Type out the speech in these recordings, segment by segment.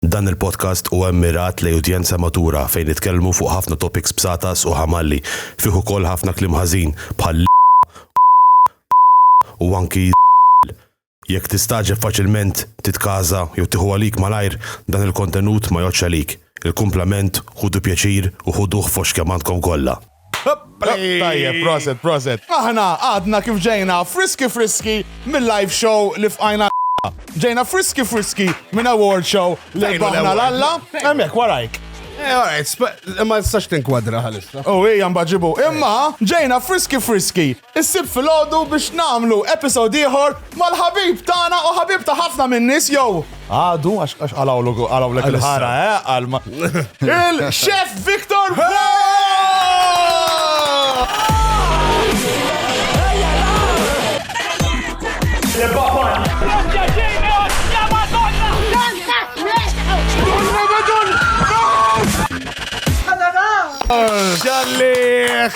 Dan il-podcast huwa mmirat lejn udjenza matura fejn nitkellmu fuq ħafna topics b'satas u ħamalli, fih ukoll ħafna kliem ħażin bħal l, u anki l. Jekk tistagħġeb faċilment, titkaża jew tieħu għalik malajr, dan il-kontenut ma jgħoddx għalik. Il-kumplament, ħudu pjaċir u ħuduh fost kemm għandkom kollha. Tajjeb, proset, proset. Aħna għadna kif ġejna friski friski mill-live show li fqajna Ġejna friski friski minn award show li baħna l-alla. Emmek, warajk. Eh, alright, ma nistax tinkwadra ħalissa. U oh, hija mbaġibu. Imma ġejna friski friski Issib filgħodu biex nagħmlu episode ieħor mal-ħabib tagħna u ħabib ta' ħafna min-nies jew għadu għax għax qalawlu qalawlek il-ħara eh għal ma- il-Chef Victor Ġalliħ!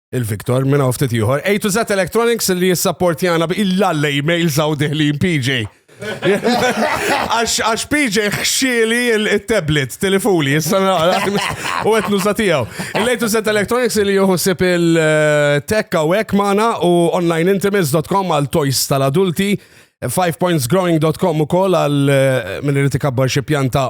il-Victor minn hawn ftit ieħor. A to Z Electronics li jissapportjana bi il-lalle email saw diħlin PJ. Għax PJ xxieli il-tablet, telefoni, issa u għetnu satijaw. Il-lejtu set electronics li juħsib il-tech u għek maħna u onlineintimates.com għal toys tal-adulti, 5pointsgrowing.com u kol għal eh, minn irriti kabbar xie pjanta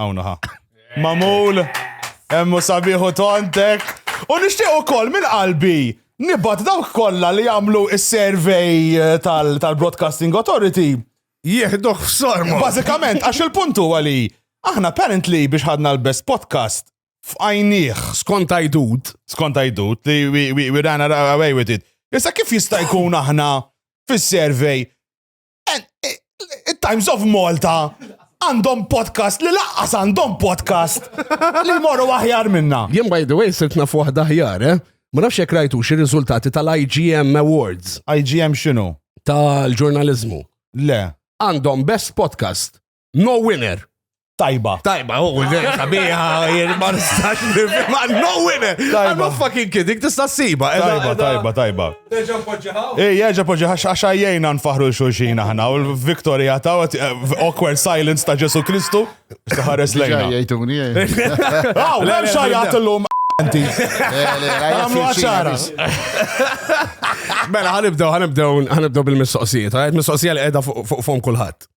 Għawna ħa. Mamul, emmu sabiħu tontek. U nishtiq u kol minn qalbi nibat dawk kolla li għamlu il-survey eh, tal-Broadcasting Authority. Jihduħ f-sormu. Bazzikament, għax il-puntu għali, aħna apparently biex ħadna l-best podcast f'għajniħ. Skont għajdut. Skont għajdut li we, we, we ran away with it. Issa kif jista' jkun aħna fis-survey Times of Malta għandhom podcast li laqqas għandhom podcast li morru aħjar minna. Jien by the way sirt naf waħda aħjar, eh? Ma nafx jekk rajtu xi riżultati tal-IGM Awards. IGM x'inhu? Tal-ġurnaliżmu. Le. Għandhom best podcast. No winner. Tajba. Tajba, u oh, ġej, sabiħa, jien ma nistax nifhimha. No winner. Tajba. I'm fucking kidding, tista' ssiba. Tajba, tajba, tajba. Terġa' poġġiħa. Ej, jerġa' poġġiħa għax għajjejna nfaħru l-xulxin aħna u l-Victoria ta' eh, awkward silence ta' Ġesu Kristu. Saħares lejna. Jajtuni. Aw, hemm xajjat illum Anti. Għamlu għaxara. Mela, ħanibdew, ħanibdew, ħanibdew bil-mistoqsijiet. Mistoqsija li għedha fuq fom kullħat.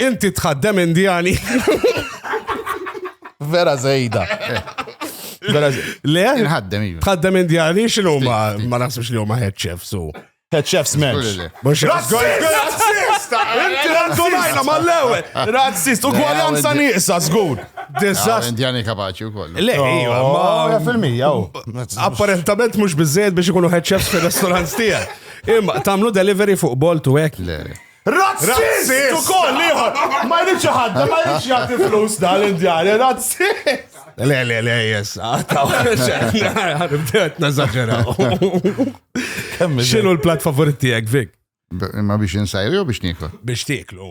Inti tħaddem indjani. Vera zejda. Vera zejda. Le? Nħaddem iva. Tħaddem indjani xinu ma ma nasibx li huma head chef su. Head chef's men. Razzista! Inti razzunajna mal-lewe. Razzist, ugwaljanza nieqsa, zgur. Dizast. Indjani kapaċi u kollu. Le, ejwa, oh, ma. fil-mija, oh. Apparentament mux bizzejed biex ikunu head chefs fil-restaurants tija. Imma, tamlu delivery fuq bolt u ek. Le. Razzist! U koll liħor! Ma jridx ħadda, ma jridx jgħati flus dal-Indjani, razzist! Le, le, le, jess, għataw, għaribdet nazaġeraw. Xinu l-plat favorit tijek, Vik? Ma biex insajri u biex niklu? Biex tiklu.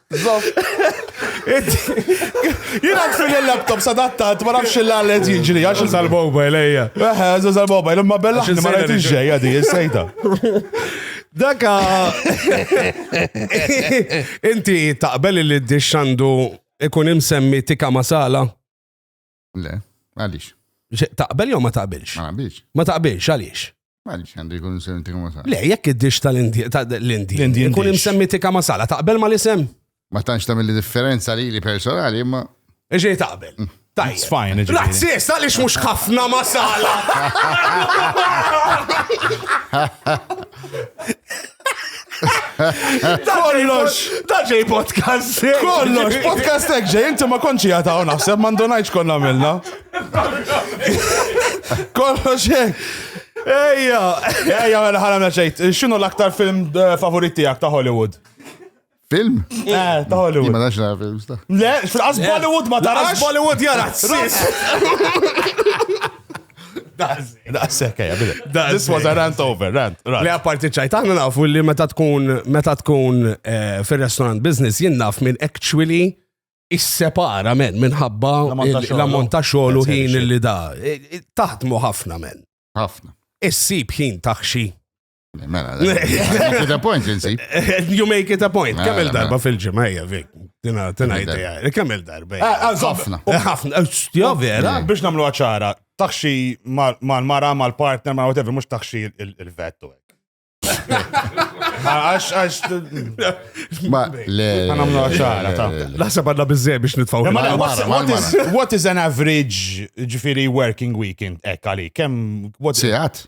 Zof. Jina fil il-laptop sadattat, ma nafx il-għallet jiġri, għax il boba il-ejja. Eħe, għax il boba il-imma bella, ma rajt il-ġeja di, il-sejta. Daka. Inti taqbel li d-dixxandu ikun imsemmi tika masala? Le, għaliex? Taqbel jew ma taqbilx? Ma taqbilx. Ma taqbilx għaliex? Għaliex għandu jkun imsemmi tikka masala. Le, jekk id-dix tal-Indi. L-Indi. Jkun imsemmi tikka masala, taqbel ma l-isem? Ma tantx tagħmel differenza li li personali, imma. Iġej taqbel. Mm. Tajt. Sfajn, ġifiri. Razzis, għalix mux ħafna masala. Kollox! Ta' ġej podcast! Kollox! Podcast ek ġej, inti ma konċi għataw naħseb, ma ndonajċ konna minna. Kollox ek! Ejja! Ejja, għana mela, ħana meċejt. Mela, Xinu l-aktar film eh, favoriti għak ta' Hollywood? Film? Eh, ta' Hollywood. Ma nafx nara films ta'. Le, fil-qas Bollywood ma tarax. Bollywood jara sis. Daqsek, eja, bile. This was a rant over, rant. Le, apparti ċajt, għanna nafu li meta tkun, meta tkun eh, fil-restaurant business, jien naf minn actually is-separa men minħabba l-ammont ta' xogħol u ħin li da. Taħdmu ħafna men. Ħafna. Issib ħin taħxi Mela, make it a point, insib. You make it a point. Mela, Kemm il-darba mela. fil-ġimgħa hija fik. Tina, tina idea. Kemm il-darba. hija. Eh, Ħafna. Eh, Ħafna. eh, Jo vera. Biex namlu ċara, taxxi mal- mal-mara, mal-partner, ma' whatever, mux taxxi il- il-vettu. Għax, għax, Ma, le. Ma nagħmlu ċara, ta. le, le. Naħseb għandna biżżej biex nitfgħu. Ma- ma- what's- ma- what ma- is- what is an average ġifiri working weekend ek għali? Kem, what Sigħat.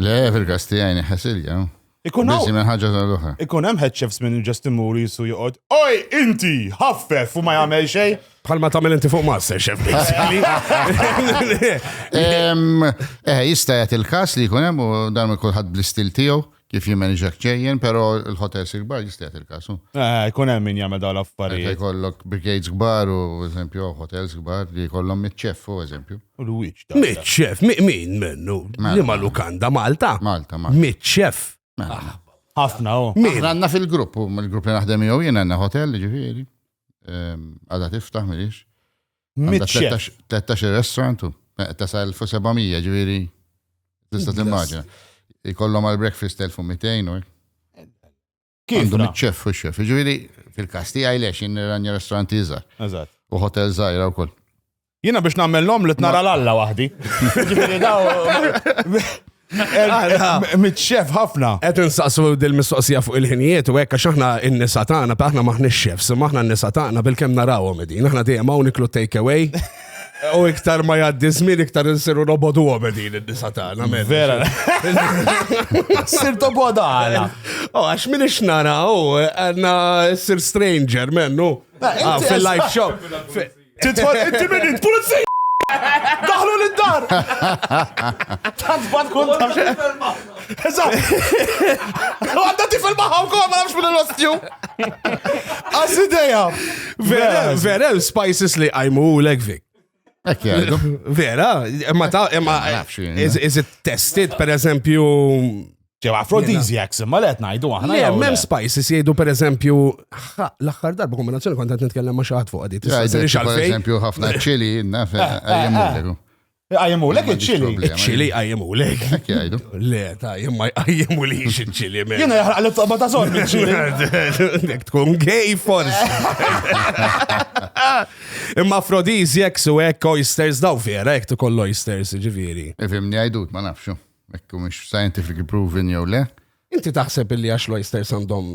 Le, fil-kas tijaj neħesilja. Ikun Bizi minn ħagġa tal-oħra. Ikun hemm head chefs minn ġest imur jisu joqgħod. Oj, inti, ħaffef u ma jagħmel xejn. Bħal ma tagħmel inti fuq master chef basically. Eh, jista' jagħti il-każ li jkun hemm u dan kulħadd bl-istil tiegħu kif jimmanġak ċejjen, pero l-hotel sigbar jistajt il-kasu. Eh, kun hemm min jagħmel dawn l-affarijiet. Kollok brigades kbar u eżempju hotels kbar li kollhom mitċeffu eżempju. Mitxef, min mennu? Mela, Lima mela. lukanda Malta? Malta, Malta. Mitxef. Mela, ah, Ħafna, oh. Min? Għanna fil-grupp, il-grupp li naħdem jew jien għanna hotel, ġifiri. Ehm, għada tiftaħ, mirix. Mitxef. 13 restaurantu, eh, tasa 1700, ġifiri. Tista t-immaġina. Ikollom għal-breakfast 1200, u Kif? Għandhom iċ-ċef u x-ċef. Ġifieri fil-każ tiegħi lex jien nirranja restoranti iżgħar. Eżatt. U hotel żgħira wkoll. Jiena biex nagħmel l-om li tnara l-alla waħdi. Ġifieri daw. Mitxef ħafna. Qed insaqsu dil-mistoqsija fuq il-ħinijiet u hekk għax aħna n-nisa tagħna aħna maħniex xefs, maħna n-nisa tagħna bil-kemm narawhom din. Aħna dejjem hawn niklu take away. U iktar ma jaddi żmien iktar insiru robodu għobedin id-disa tagħna. Vera. Sir toboda għala. U oh, għax min ixnara u oh, għanna sir stranger mennu. Ah, fil-live show. Titfall inti minn int pulizzi! Daħlu l-dar! Tanzbat kun Eżatt! Għadda tifel maħħa wkoll ma nafx minn l-ostju. Għas ideja. Vera, vera, spices li għajmu u l-egvik. Vera, ma ta' ma is it tested per eżempju ġew aphrodisiacs imma let ngħidu aħna. Le, mem spices jgħidu per eżempju l-aħħar darba kombinazzjoni kont qed nitkellem ma' xi ħadd fuq għadi. Per eżempju ħafna ċili naf eh, eh, eh. Iqajmulek iċ-ċili. Iċ-ċili iqajmulek. Hekk jgħidu. Le, ta' jien ma jqajmu li iċ-ċili. Jiena jaħraq li toqba ta' sol miċ-ċili. Nek tkun gej forsi. Imma afrodisiacs u hekk oysters daw vera, hekk tkoll oysters, ġifieri. Ifimni għajdut, ma nafxu. Ekku mhux scientific proven jew le. Inti taħseb illi għax l-oysters għandhom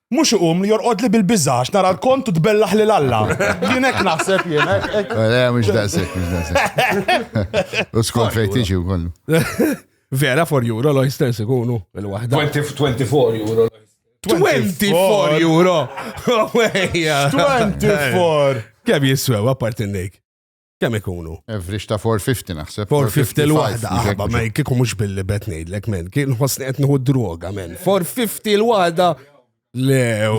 Mhux iqum li jorqodli bil-biża' għax nara l-kont u tbellaħ lil Alla. Jien hekk naħseb jien. hekk- hekk- Le, mhux daqshekk, mhux daqshekk. U skont fejn tiġi wkoll. Vera for euro l-oysters ikunu il-waħda. 20 24 euro. 24 euro! Ejja. 24. Kemm jiswew apparti n-nejk? Kemm ikunu? Average ta' 450 naħseb. 450 l-waħda, aħba, ma kiku mux billi bet nejdlek, men, kien ħosni qed nħu droga, men. 450 l-waħda. Lew.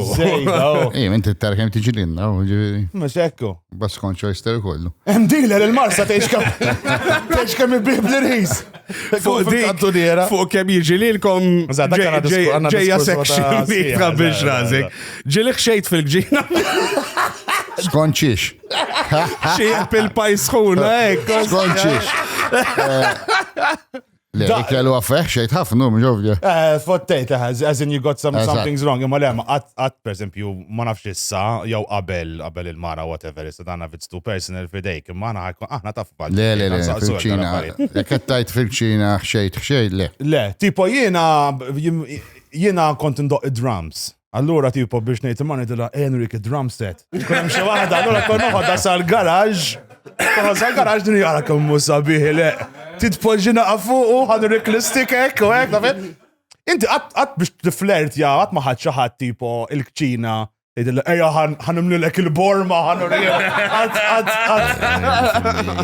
Ej, minn t-tarħem tiġi l-inna, ġiviri. Mux ekku. Bas konċo jister kollu. Em dealer il-marsa teħx kam. Teħx kam il-bib l-ris. Fuq dik. Fuq kem jiġi li l-kom. Ġeja section biex razik. Ġili xejt fil-ġina. Skonċiex. Xieq il-pajs ħuna, ekk. Skonċiex. Le, kellu għaffeħ xejt ħafna, mġovja. Eh, fottejt, eh, as in you got some, something's wrong, imma le, għat, per esempio, ma nafx issa, jew qabel, qabel il-mara, whatever, issa dana if it's too personal fidejk, imma għana ħakku, aħna taf bħal. Le, le, le, fil-ċina, kettajt fil-ċina, xejt, xejt, le. Le, tipo jena, jena kont ndoq id-drums. Allura tipo biex ngħid imma ngħidilha Henrik id-drum set. Kun hemm xi waħda, allura kon noħodha sal-garaġġ. Kon sal-garaġġ din jara kemm mhu sabiħ le. Titpoġġina fuqu, ħadu riklistik hekk u hekk, tafet? Inti qatt biex tiflert ja, qatt ma ħadd xi ħadd tipo il-kċina Idilla, eja ħanimlu l-ek il-borma, ħanurija.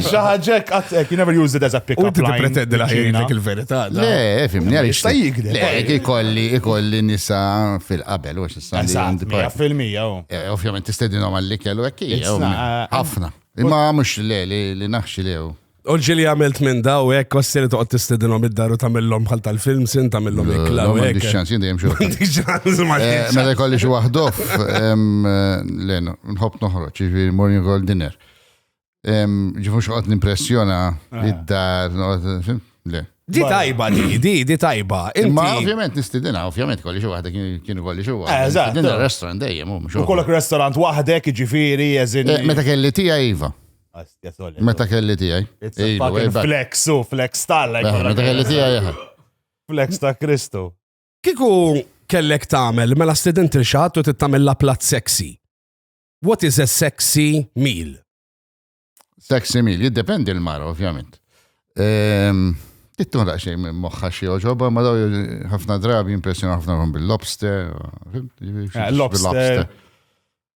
Xaħġek, għatek, you never use it as a pick-up line. U t-pretendi laħin l-ek il-veri. ta' da. Le, fimni għaliex. Jista' jikdeb. Le, għaliex. ikolli, ikolli nisa fil-qabel, u x'issa li Eżatt, għandi mija par- fil-mija, u. Eh, Ovvjament tistedinhom għall-ikel u hekk It's hija, not- eh, ħafna. Imma mhux le li li naħxi lew. U ġili għamilt minn da u hekk ossi li toqgħod tistedinhom id-dar u tagħmilhom bħal tal-film sin tagħmilhom ikla u Għandi hekk. xans, jien dejjem xogħol. M'għandix ċans, Eh, m'għandix ċans. Meta jkolli xi waħdof, em, eh, le, no, nħobb noħroġ, jiġifieri morning call dinner. Ġifu xoqt nimpressjona eh. id-dar, le. Di tajba di, di, di tajba. Imma ovvjament nistidina, ovvjament kolli xi waħda kienu kolli xi waħda. Eh, eżatt. Din restaurant dejjem hum. U kollok restaurant waħdek, ġifieri, eżin. Eh, meta kelli tiegħi iva. Meta kelli tiegħi. Flex u flex tal. Meta kelli tiegħi. Flex ta' Kristu. Kiku kellek tagħmel mela student il-xat u tittamel la plat sexy. What is a sexy meal? Sexy meal, jiddependi l-mara, ovvjament. Ehm, Tittun daqxej minn moħħa xie oġoba, ma daw ħafna drabi impressjoni ħafna għom bil-lobster. Eh, lobster.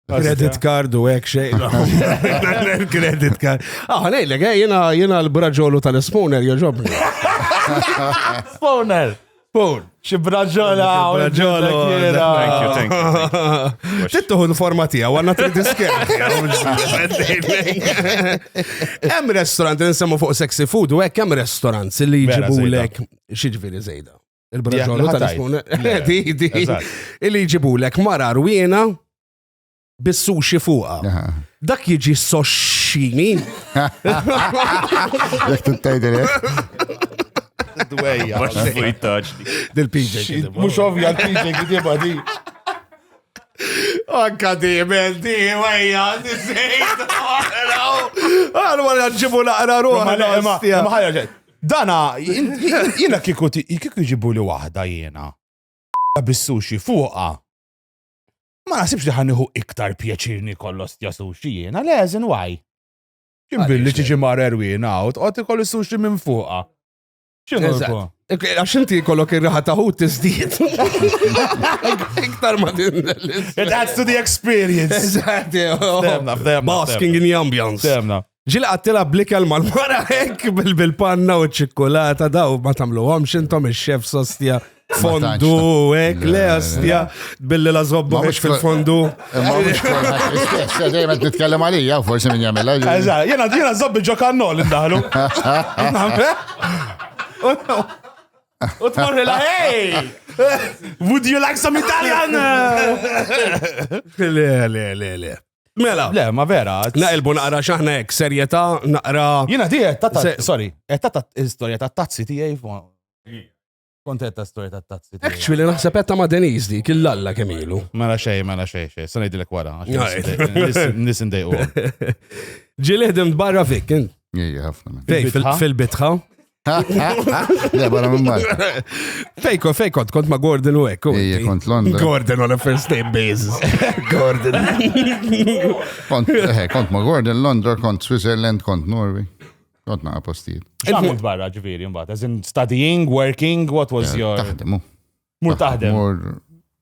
Credit card u ek xej. Credit card. Ah, nejlek, eh, jena l-braġolu tal-spooner joġobni. Spooner! Pur. Xi braġola u braġola. Thank you, thank you. Tittuħu l-forma tiegħu għandna trid iskerti. Hemm restaurant li nsemmu fuq sexy food u hekk hemm restaurants li jġibulek xi ġifieri żejda. Il-braġola tal-ispun. Di, di. Illi jġibulek mara rwiena bis-sushi fuqha. Dak jiġi soxxini. Jek tintajdil Dwejja. Dil-PJ. Mux ovvja l-PJ kitiba di. Anka di, men di, wejja, di sejt. Għal wara ġibu naqra ruħ. Dana, jina kiku jġibu li wahda jina. Bis-sushi fuqa. Ma naħsibx li ħaniħu iktar pjaċir nikol l-ostja sushi jiena, le, as in why? Kien billi tiġi mar erwin out, għot ikol sushi minn fuqa. Għax inti kollok ir-raħa taħut tiżdiet. Iktar ma din. It adds to the experience. Eżatt, Basking in the ambience. Temna. Ġil għattila blikel mal-mara hekk bil-panna u ċikkulata daw ma tamluhom xintom il-xef sostja fondu hekk le astja billi la zobba biex fil-fondu. Dejjem qed nitkellem għalija forsi min jagħmilha. Jena jiena żobbi ġo kannol indaħlu. U tmorri la, hey! Would you like some Italian? Le, le, le, le. Mela. Le, ma vera. Naqilbu naqra xaħna hekk, serjetà naqra. Jiena di qed tata, sorry, qed tata istorja ta' tazzi tiegħi Kont qed ta' storja ta' tazzi. Actually naħseb qed ta' ma' Deniz di kill alla kemm ilu. Mela xej, mela xej, xej, se ngħidilek wara. Nis indejqu. Ġieli ħdimt barra fik. Ejja ħafna. Fil-bitħa. Le, barra minn Malta. Fejko, fejko, kont ma' Gordon u ekku. Ija, kont Londra. Gordon on a first name basis. Gordon. Kont, eh, kont ma' Gordon, Londra, kont Switzerland, kont Norway. Kont naqa postijiet. Xamilt barra ġviri mbagħad, as in studying, working, what was eh, your... Taħdemu. Mur taħdem. Mur,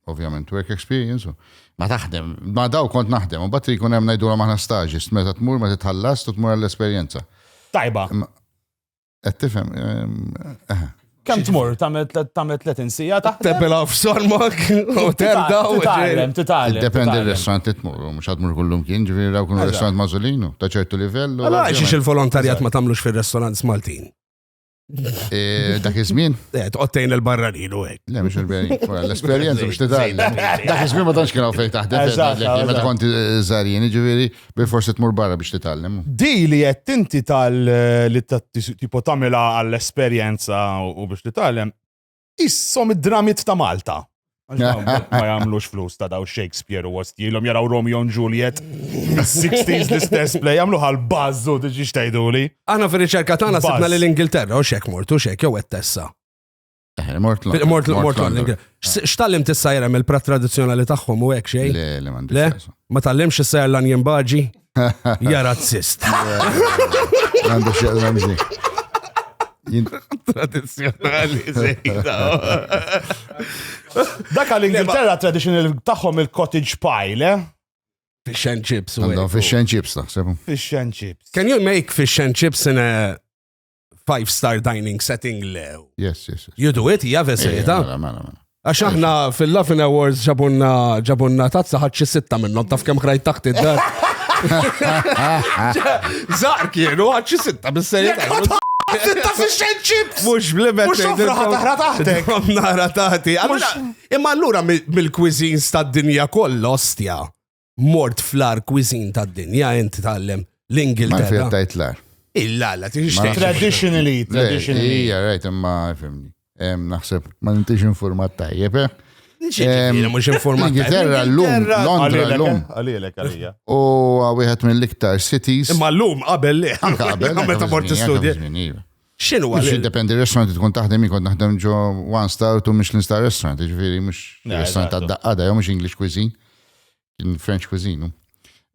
ovvjament, work experience. Ma taħdem, ma daw kont naħdem, u bat jkun hemm ngħidulhom aħna staġist, meta tmur ma titħallas, tmur għall-esperjenza. Tajba. Qed tifhem. Eh. Kemm tmur tagħmel 30 sija taħt. Tebel għaf sormok u terda u titgħallem, titgħallem. Dependi r-restaurant li tmur, mhux għad mur kullum kien, ġifieri raw kun restaurant mażolinu ta' ċertu livell. Allora xiex il-volontarjat ma tagħmlux fir-restaurants Maltin. Eh, dak iż-żmien? Eh, tqottejn il-barranin u hekk. Le, mhux l-esperjenza biex titgħallem. Dak iż-żmien ma tantx kienu fejn taħdem, ma tkun żarjien, ġifieri. Bilforsi tmur barra biex titgħallem. Di li qed inti tal li tipo tagħmilha għall-esperjenza u biex titgħallem, issom id-dramit ta' Malta. Ma jagħmlux flus ta' daw Shakespeare u għostjilhom jaraw Romeo and Juliet mis-60s l-istess play jagħmlu għal bażu diġi xtajduli. Aħna fir-riċerka tagħna sibna li l-Ingilterra u xek mortu xek jew qed tessa. Eh, mort London. Mort London. X'tallim tissa jerem il-prat tradizjonali tagħhom u hekk xejn? Le, le m'għandix. Le, ma tallimx issa jer l-anjen baġi? Ja razzist. Għandu xieq ramzi. Tradizjonali zejda. Dak għal-Ingilterra tradizjonali tagħhom il-cottage pie, le? Fish and chips. Għandhom fish and chips, naħseb. Fish and chips. Can you make fish and chips in a five star dining setting le. Yes, yes. yes. You do it, hija veserita. Eh, mela, mela, mela. Għax aħna fil-Laughing Awards ġabunna ġabunna tazza ħadxi sitta minnhom taf kemm krajt taħt id-dar. Zar kienu ħadxi sitta bis-serjetà. Sitta fi xejn ċips! Mux blimet. Mux ħafraħa taħra taħtek. Nara taħti. Imma allura mill-cuisines tad-dinja kollha ostja. mort fl-ar kwizin ta' dinja inti tallem l-Ingilterra. Ma tajt l-ar. Illa, la, tixtieq. Traditionally, traditionally. Ija, rajt, imma fimni. Naħseb, ma nintix informat tajjeb, eh? Mux informat. Ingilterra l-lum, Londra l-lum. Għalilek, għalija. U għawihet mill-iktar cities. Imma l-lum, qabel li. Qabel. Meta mort istudja. X'inhu għal? Jiddependi r-restaurant li tkun taħdem jkun naħdem ġo one star u Michelin star restaurant, ġifieri mhux restaurant tad-daqqada jew mhux English cuisine, kien French cuisine.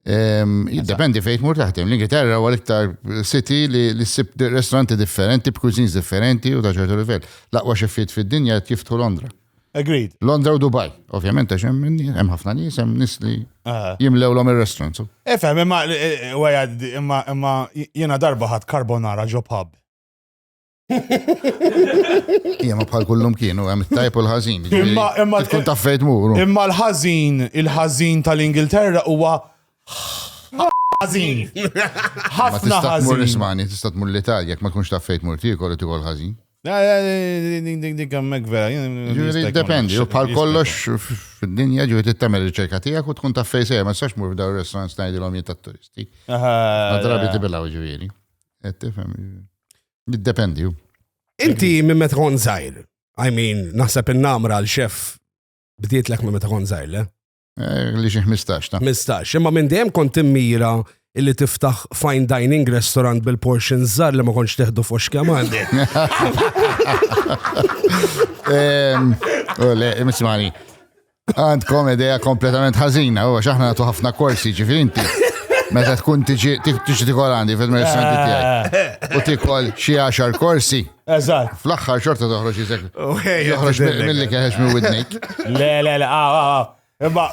Jiddependi fejn mur taħdem. L-Ingilterra huwa l-iktar city li ssib restauranti differenti b'cuisines differenti u ta' ċertu livell. L-aqwa xeffiet fid-dinja jiftħu Londra. Agreed. Londra u Dubai, ovvjament, għax hemm ħafna nies, hemm nies li ah. jimlewlhom ir-restaurants. Efhem, imma imma imma jiena darba ħadd carbonara ġo pub. Imma bħal kullum kienu hemm it-tajb u l-ħażin. Imma imma tkun taf fejn tmur. Imma l-ħażin, il-ħażin tal-Ingilterra huwa ħażin. Ħafna ħażin. Tista' tmur l-Ispanja, tista' tmur l-Italja, jekk ma tkunx taf fejn tmur tiekol u tiekol ħażin. Dik għammek vera. Ġuri dependi, u bħal kollox fil-dinja ġuri tittamel riċerka tijak u tkun ta' fejse, sejja, ma s-sax mur f'daw il-restaurant snajdi l-om ta' turisti. Għadrabi tibilaw ġuri. Għettifem, dependi. Inti minn meta kon zaħir, I mean, naħseb il-namra l-xef bdiet l-ek minn meta kon zaħir, le? Eh, li xi 15 ta'. 15, imma minn dejjem kont immira illi tiftaħ fine dining restaurant bil-portion żar li ma kontx teħdu f'ox kemm għandi. Le, mismani. Għandkom ideja kompletament ħażina, u xaħna nagħtu ħafna korsi ġifieri inti. Meta tkun tiġi tiġi tikol għandi fil-merċanti tiegħi. U tikol xi għaxar korsi Eżatt. Fl-axħar xorta toħroġ jizek. Joħroġ mill-li keħex minn widnejk. Le, le, le, ah, ah, ah. Imma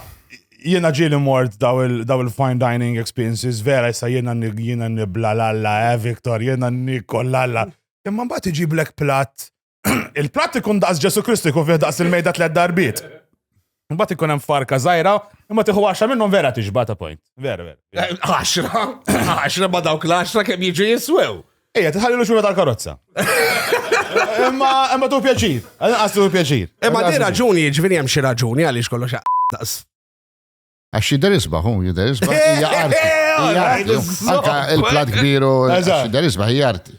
jiena ġieli mort daw il-fine dining experiences, vera jissa jiena jiena nibla l-alla, eh, Viktor, jiena nikol l-alla. Imma mbagħad iġi black plat. Il-plat ikun daqs Ġesu Kristu jkun fih daqs il-mejda tlet darbiet. Mbagħad ikun hemm farka żgħira, imma tieħu għaxra minnhom vera tixba ta' point. Vera, vera. Eh, għaxra, għaxra ma dawk l-għaxra kemm jiġu jiswew. Ejja, tħallilu xura tal-karozza. Imma imma tu pjaċir, għas tu pjaċir. Imma di raġuni, ġvini hemm xi raġuni għaliex kollox daqs. Għax jider isbaħ, hu jider isbaħ, hija arti. Anka il-plat kbiru, jider isbaħ, hija arti.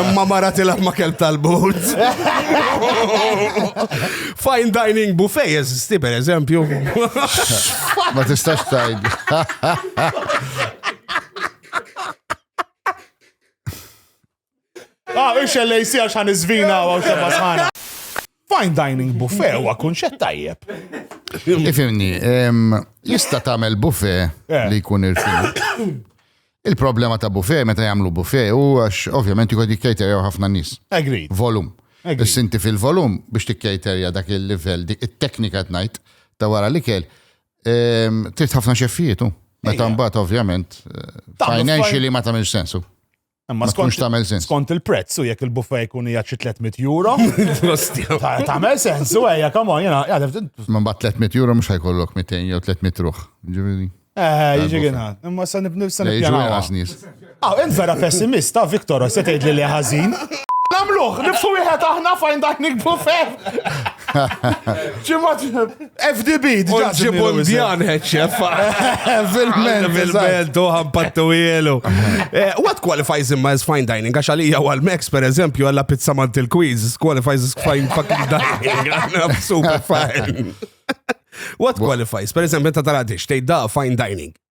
Imma mara tilab ma kelb tal-bord. Fine dining buffet jeżisti per eżempju. Ma tistax tajd. Ah, ix LAC għax ħan iżvina għaw xabba sħana. Fine dining buffet huwa kunċett tajjeb. Ifimni, jista' tagħmel buffet eh. li jkun irfinat. Il-problema ta' buffet meta jagħmlu buffet u għax ovvjament jkun jikkejterjaw ħafna nies. Agri. Volum. Is-sinti fil-volum biex tikkejterja dak il-livell, dik it-teknika tnajt ta' wara li kell. Trid ħafna xeffietu. Meta mbagħad ovvjament eh, financially ma tagħmilx sensu. Ma tkunx tagħmel sens. Skont il-prezz u jekk il-buffa jkun hija xi 300 euro. Tagħmel sens u ejja come on jiena jgħadef. Ma mbagħad 300 euro mhux ħajkollok 200 jew 300 ruħ. Ġifieri. Eh, jiġi għina. Imma sa nibni sa nibni. Aw, int vera pessimista, Viktor, se tgħidli li ħażin. Namluħ, nifsu wieħed aħna fajn dak nikbu fem. Ġimgħat FDB, diġa ġibu l-bjan ħedxef. Fil-ment, fil-ment, uħan pattu jielu. Eh, what qualifies him as fine dining? Għax għalija għal Max, per eżempju, għalla pizza mant il-quiz, qualifies as fine fucking dining. Super fine. What qualifies? Per eżempju, ta' taradix, tejda fine dining.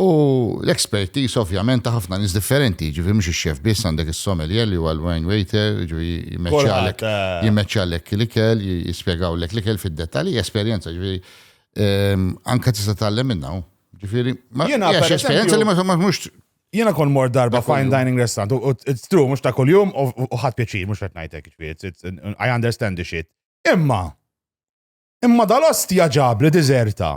U l-expertise ovvjament ta' ħafna nis differenti, ġifi mux il-xef biss għandek il-sommelier li għal wine waiter, ġifi jimmeċċalek jimmeċċalek l-ikel, jispiegaw l-ek l-ikel fil-detali, esperienza ġifi ehm, anka tista tallem minna. Ġifiri, ma jiex esperienza li ma mux Jena kon mor darba fine dining restaurant, u it's true, mux ta' kol-jum, u ħat pieċi, mux fett najtek, I understand the shit. Imma, imma dal-ost jaġab li dizerta.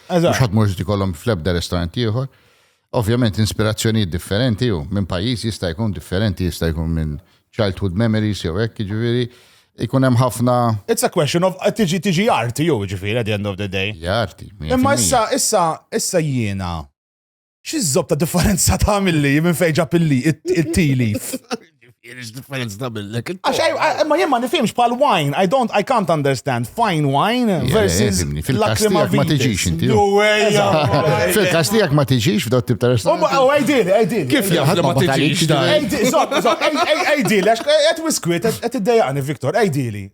Mhux ħadd mhux ikollhom fl-ebda restaurant ieħor. Ovvjament inspirazzjonijiet differenti u minn pajjiż jista' jkun differenti, jista' jkun minn childhood memories jew hekk, jiġifieri ikun hemm ħafna. It's a question of tiġi tiġi arti jew jiġifieri at the end of the day. Hija arti. Imma issa issa issa jiena Xi żob ta' differenza ta' milli minn fejn ġab il-li, it-tilif. Differenza ta' milli. Għax, eh, eh, ma jien ma nifhimx bħal wine, I don't, I can't understand. Fine wine versus lakrima ma tiġix inti. Fil-kas tiegħek ma tiġix f'daw tip ta' restaurant. U għajdil, għajdil. Kif jaf ma tiġix? Għajdil, zob, zob, għajdil, għax għet wiskwit, għet id-dejani, Viktor, għajdili.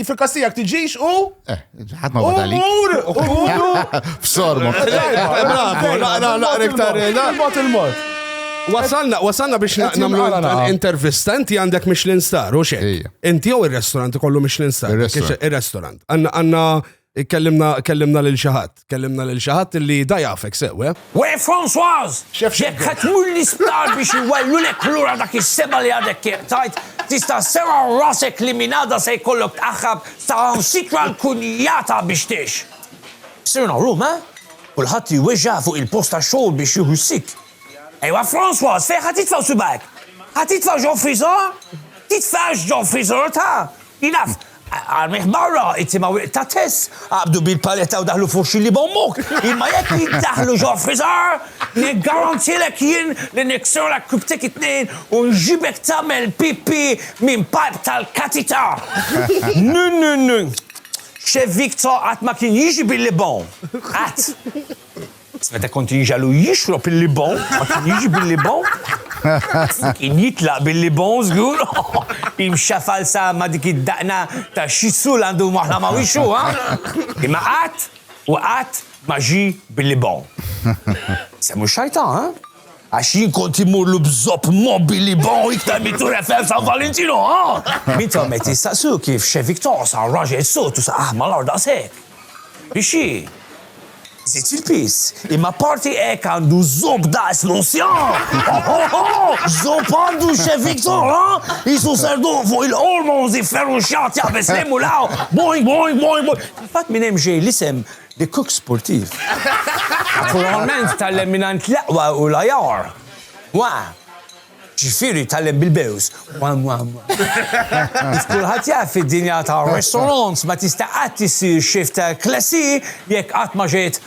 Fil-kas tiegħek tiġix u? Eh. ħadd ma bada li. Umur! Umur! F'sorma. Bravo, naqra naqra iktar il-mod il-mod. Wasalna, wasalna biex namlu intervista, inti għandek Michelin Star, u xek. Inti jew il-restorant kollu Michelin Star. Il-restorant. Għanna, għanna, kellimna, kellimna lil xaħat. Tkellimna lil xi ħadd li da jafek sew, eh? We Françoise! Jekk ħa tmur l-isptar biex iwellulek lura dak is-seba' li għadek kif qtajt, tista' sserraħ rasek li minn għada se jkollok tqaħħab saħansitra l-kunjata biex tgħix. Sirna llum, eh? Kulħadd iweġġa' fuq il-post tax-xogħol biex jieħu s-sitt. Ejwa Françoise, fejn ħa titfa' subgħajk? Ħa titfa' ġo friżer? Titfgħax ġo friżer ta'! Jien naf, Armih barra, it-timiegħu iqta' Tess, qabdu bil-paletta u daħlu f'uxxi li b'ommok! Imma jekk jiddaħħlu ġo friżar, niggarantilek jien li niksurlek kibtek it-tnejn u nġibek tagħmel pipì minn pajp tal-katita! Nu, nu, nu! Chef Victor qatt ma kien jiġi bil-libgħom. Qatt! Meta kont inġagħlu jixrob il-libon, ma kien jiġi bil-libon? Kien jitlaq bil-libon żgur, imxafal sa ma dik id-daqna ta' xi sul għandu waħla ma' wixxu, ha? Imma qatt u qatt ma ġie bil-libon. Semmu x-xajtan, ha? Għax jien kont immurlu b'żopp mobili bon iktar minn Tour Eiffel San Valentino, ha! Min tom qed jistaqsu kif Che Victor sar raġel sod u saqah mal-art daqshekk. Biex xi? Żidt fil-piż, imma apparti hekk għandu żopp daqs l-Ocean! X'żopp għandu Che Victor, ha! Qisu ser dogħoq fuq il-hormones ifferruxxat jaqbeż lejn u l-hawn, boing boing boing boing! Fil-fatt minn hemm ġej l-isem The Cook Sportif naturalment tgħallem mingħand l-aqwa u l-ajar. Wa! Ġifieri tgħallem bil-bews. Wa wa wa. Kif kulħadd jaf fid-dinja tar-restaurants ma tista' qatt issir chef ta' klassi jekk qatt ma ġejt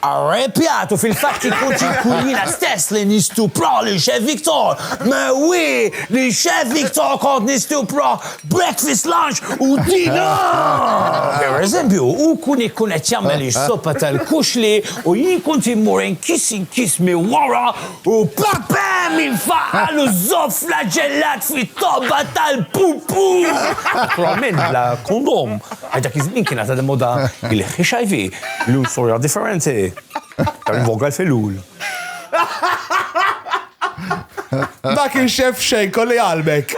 arrepjat u fil-fatt ikun xi jkun jiena stess li nistupra lil Chef Victor. Mewwii! Lil Chef Victor kont nistupra! breakfast, lunch u dinner! Per eżempju, u kun ikkun qed jagħmel is-soppa tal-kuxli u jien kont immur inkis inkis minn wara u papem infaqal u żopp flaġellat fit-tobba tal-pupu! Naturalment bla kondom, għax dak iż-żmien kienet għadha moda il-HIV, illum storja differenti. Iktar in voga l-filul. Ma kien xeff xejn, kolli qalbek.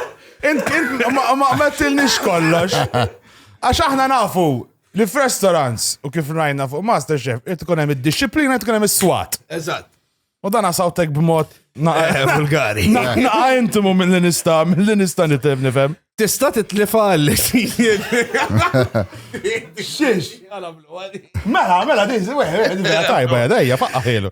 Int, int, ma ma għamettilniex kollox. Għax aħna nafu li f'restaurants u kif rajna fuq Masterchef, qed tkun hemm id-disciplina, qed tkun hemm is-swat. Eżatt. U dan għasawtek b'mod Eh, vulgari. Naqa intimu mill-li nista, mill-li nista nitem nifem. Tista titlifa għalli xijed. Xiex. Mela, mela, dizi, weħ, weħ, tajba, jadajja, faqqa ħilu.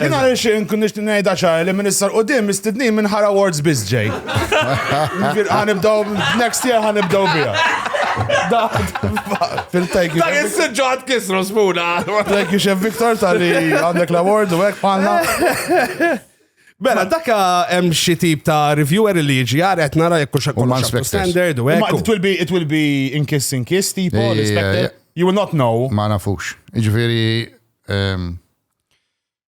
Jina għal xin kun nishtin nejda ċar li minister u dim istidni minn ħara awards biz ġej. Għanibdaw, next year għanibdaw bija. Fil-tajk. Da jessġu għad kisru smuna. Thank you, Chef Victor, tal-li għandek l-award u għek panna. Bella, dakka hemm xi tip ta' reviewer li jiġi għar qed nara jekk xi kollox standard u hekk. It will be it will be in kiss in kiss tipo, you will not know. Ma nafux. Jiġifieri ehm,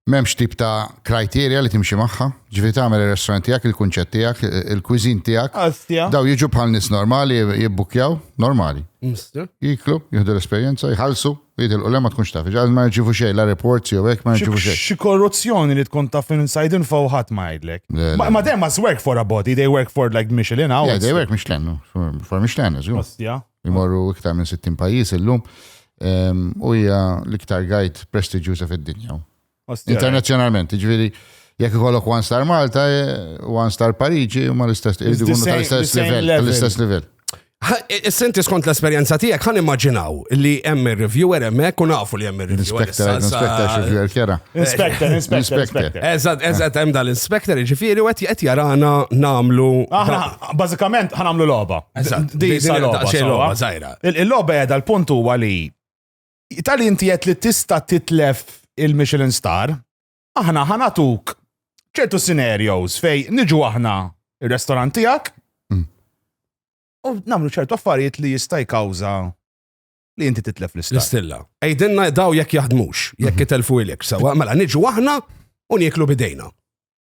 M'hemmx tip ta' criteria li timxi magħha, ġifieri tagħmel ir-restaurant tiegħek, il-kunċett tiegħek, il-cuisine tiegħek. Astja. Dawn jiġu bħal nies normali jibbukkjaw, normali. Mister. Jiklu, jieħdu l-esperjenza, jħallsu, jitilqu le ma tkunx taf. Ġal ma jirċivu xejn, la reports jew hekk ma jirċivu xejn. Xi korruzzjoni li tkun taf inside info u ħadd ma jgħidlek. Le, le. Ma ma them must work for a body, they work for like Michelin Yeah, hours. they work Michelin, no, for for Michelin, żgur. Astja. Imorru iktar minn 60 pajjiż illum ehm, u hija l-iktar guide prestiġjuża fid-dinja. Internazzjonalment, ġifieri jekk ikollok one star Malta, eh, one star Pariġi, ma l-istess tal-istess livell, tal-istess livell. Senti skont l-esperienza tijak, għan immaginaw li hemm reviewer hemm hekk u nafu li hemm reviewer Inspector, inspector, xivjer kjera. Inspector, inspector, inspector. Eżat, eżat, hemm dal-inspector, ġifiri, u għet jarana namlu. Aħna, Bażikament ħan nagħmlu logħba. Di sa logħba żgħira. Il-logħba qiegħda l-punt huwa li tal inti qed li tista' titlef il-Michelin Star, aħna ħanatuk ċertu scenarios fej niġu aħna il-restorant tiegħek mm. u nagħmlu ċertu affarijiet li jista' jkawża li inti titlef l-istilla. L-istilla. Ejdinna daw jekk jaħdmux, jekk mhm. itelfu ilek, sawa, mela niġu aħna u nieklu bidejna.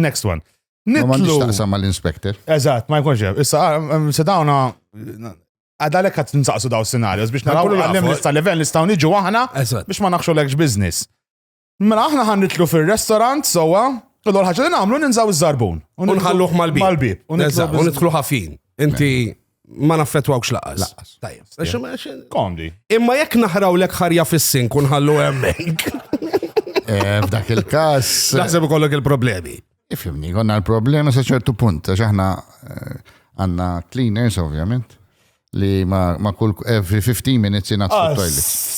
Next one. Ma għandix taqsam ma l-inspector. Eżat, ma jkunx hemm. Issa, ah, mm, se dawna għadalek għat nsaqsu daw scenarios biex naraw għallim nista level nistaw niġu aħna biex ma naħxu l-ekx biznis. Mela aħna ħan nitlu fil-restaurant sowa, u l-ħagġa li namlu ninżaw iż-żarbun. Unħalluħ mal-bib. Mal-bib. Unitlu ħafin. Inti ma naffettwawx laqas. Laqas. Tajjeb. Għax Yeah. ma- għax- Komdi. Imma jekk naħraw lek ħarja fis-sin kun ħallu hemmhekk. Eh, F'dak il-każ. Naħseb ikollok il-problemi. Ifimni, konna l-problema sa ċertu punt, għax aħna eh, għanna cleaners, ovvjament, li ma, ma kull every 15 minutes jina Ah, toilet.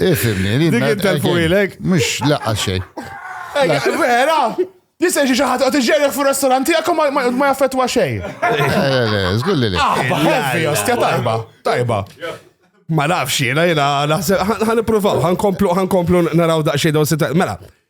Ifimni, li. Dik intelfwilek. Mux laqqa xej. Vera! Jisaj xi ħadd qed iġġerek fu restaurant tiegħek ma jaffettwa xejn. Żgur li. Ah, heavy, ostja tajba, tajba. Ma nafx jiena jiena naħseb ħan nippruvaw, ħan komplu ħan komplu naraw daqsxejn dawn Mela,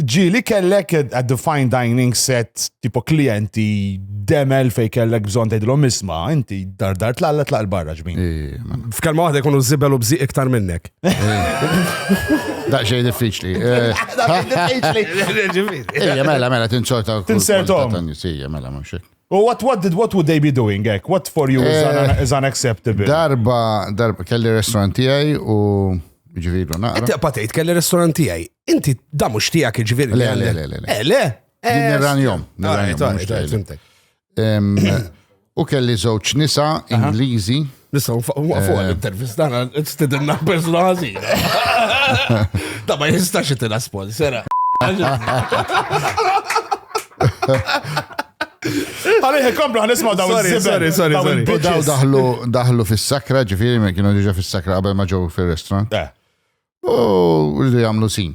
ġili kellek a defined dining set tipo klienti demel fej kellek bżon tgħidilhom isma, inti dar dar tlalla tlaq barra ġmin. F'kelma waħda jkunu żibel u bżi iktar minnek. Daqxej diffiċli. Daqxej diffiċli. Ejja, mela, mela, tinċorta. Tinsertom. Ejja, mela, mhux U what, what, did, what would they be doing, ek? What for you is, un, eh, is unacceptable? Darba, darba, kelli restaurant tijaj u ġviru naqra. Inti patejt kelli restaurant tijaj. Inti da mux tijak ġviru. Le, le, le, le. Eh, le. Eh, nirran jom. U kelli zoċ nisa Ingliżi. Nistaw waqfu għal-intervist eh. għana, t-stidinna persona għazina. Da ma jistax jitina sponsora. Għalih, komplu għan isma daw Sorry, sorry, sorry. Daw daħlu, daħlu fil-sakra, ġifiri, ma kienu diġa fil-sakra għabel ma ġew fil-restaurant. Eh. U rridu jgħamlu sin.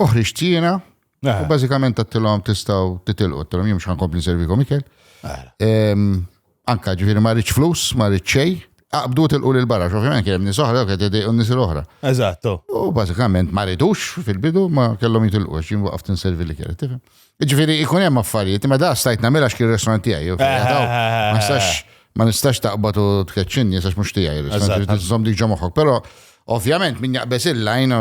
uħriġ tina, eh. u bażikament għattilhom tistgħu titilqu, għattilhom jimx ħankompli nservikom ikel. Eh. Anka ġifieri ma rridx flus, ma rridx xejn, Aqbdu tilqu l barra xofiment kien hemm nies oħra kien tedej un nies l-oħra. Eżatto. U bażikament ma ridux fil-bidu ma kellhom jitilqu għax jien waqaft inservi li kien, tifhem. Ġifieri jkun hemm affarijiet, imma da stajt nagħmilha x'kien restaurant tiegħi. jew kien jadaw. Ma nistax ma nistax taqbad u tkeċċinni għax mhux tiegħi restaurant Eżatt. irid iżomm dik ġo moħħok. Però ovvjament min jaqbeż il-lajn u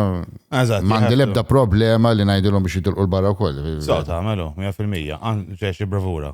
Eżatt, m'għandi jħebbtu. l-ebda problema li ngħidilhom biex jitilqu l-barra wkoll. So, tagħmelu, 100%. Għan ġex bravura.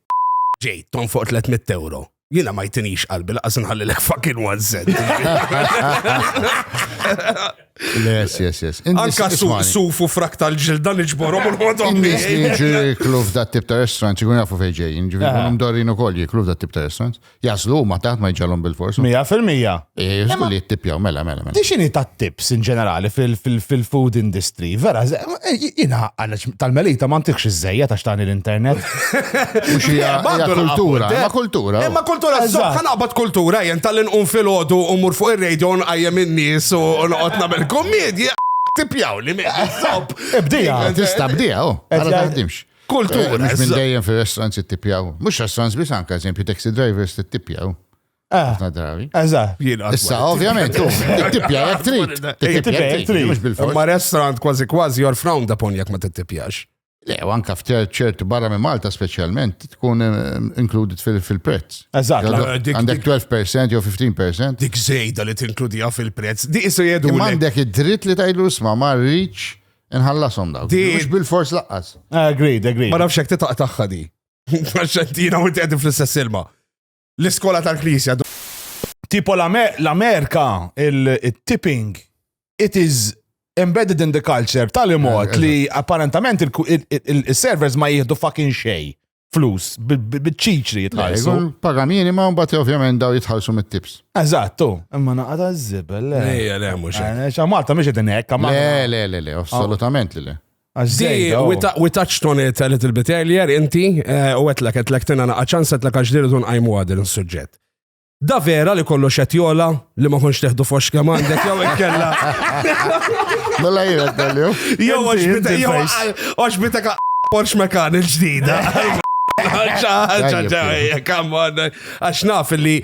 Ġej, tonfoq 300 euro. Jina ma jtinix qalbi laqas nħallilek fucking one cent. Yes, yes, yes. Anka sufu frak tal-ġilda li ġborom u l-ħodom. Nis li ġiklu f'dat tip ta' restaurant, jkun jafu fejġej, ġifiri, mdorin u koll jiklu f'dat tip ta' restaurant. Jaslu ma taħt ma jġalhom bil-fors. Mija fil-mija. Jaslu li jittipjaw, mela, mela, mela. Dixini ta' tips in ġenerali fil-food industry, vera, eh, jina tal-melita ma ntikx iż-żejja ta' xtani l-internet. Mux hija kultura, ma kultura. Ma kultura, zokka naqbad kultura, jen tal-inqum fil-ħodu u mur fuq il-radio nqajjem in-nies u noqgħod nagħmel kommedja tipjaw li meħi. Ibdija. Tista' bdija, oh. Għala taħdimx. Kultura. Eh, mhux minn dejjem fir-restaurants ittipjaw. Mhux restaurants biss anke eżempju taxi drivers tittipjaw. Eh. Ħafna drabi. Eżatt. Issa, ovvjament, tittipja jek trid. Tittipja jek trid. Mhux bil-fors. Ma restaurant kważi kważi jor frowned upon jek ma tittipjax. Le, u anka f'ċert barra minn Malta specialment, tkun eh, included fil-prezz. Eżatt. Għandek 12% jew 15%. Dik zejda li tinkludija fil-prezz. Di isu jedu. Għandek id-dritt li tajlu sma ma rridx Inħallasom dawk. Di- Mhux bil-fors laqqas. Agreed, agreed. Ma nafx hekk titaq tagħha di. Għax ġentina u inti qegħdin fl-istess ilma. L-iskola tal-Knisja. d- Tipo l-Amer- l-Amerika, il- il-tipping, it is embedded in the culture tal-imot Eh, li apparentament il- il- il- il-servers ma jihdu fucking xej. flus, bil-ċiċri jitħallsu. Paga minima, un bat ovvjament daw jitħallsu mit-tips. Eżattu, imma naqata z-zibel. Le, le, mux. Malta mux id ekka ma. Le, le, le, le, assolutament le. Di, oh. we touched on it a little bit earlier, inti, eh, u għetlek, għetlek tina naqqa ċans, għetlek għax diru tun għajmu għadil n-sujġet. Da vera li kollox qed jola li ma kontx teħdu fox kemm għandek jew ikkella. Mela jiena tellju. Jew għax bitek Porsche Macan il-ġdida. Għax naf li.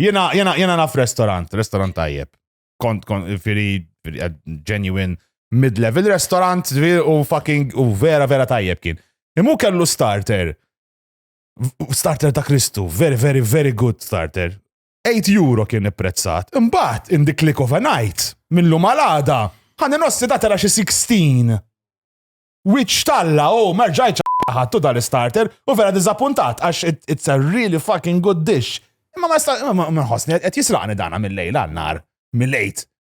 Jena, jena, jena naf restaurant, restaurant tajjeb. Kont, kont, firi, eh, genuine, mid-level restaurant, u fucking, u vera, vera tajjeb kien. Imu kellu starter. Starter ta' Kristu, very, very, very good starter. 8 euro kien ipprezzat. Imbagħad in the click of a night, minnlu malada, ħani nossi da tara xi 16. Which talla, oh, merġajċ ħattu dal-starter u vera dizappuntat għax it's a really fucking good dish. Imma ma sta' ma nħossni qed jisraqni dana mill-lejl għannar, mill-lejt.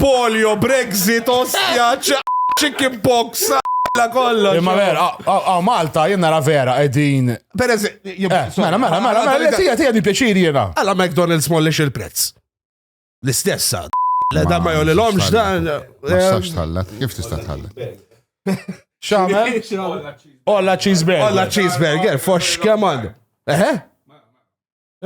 Polio, Brexit, ostja, chicken pox, kollox. Imma vera, għaw Malta jien nara vera qegħdin. Per eżempju, eh, mela, mela, mela, mela, mela, tija tija di pjaċir jiena. Alla McDonald's mollix il-prezz. L-istessa. Le da ma jolli l-omx dan. Ma stax eh, tħallet, kif tista' tħallet? Xamel? Olla cheeseburger. Olla cheeseburger, fox kemm għandu. Eħe?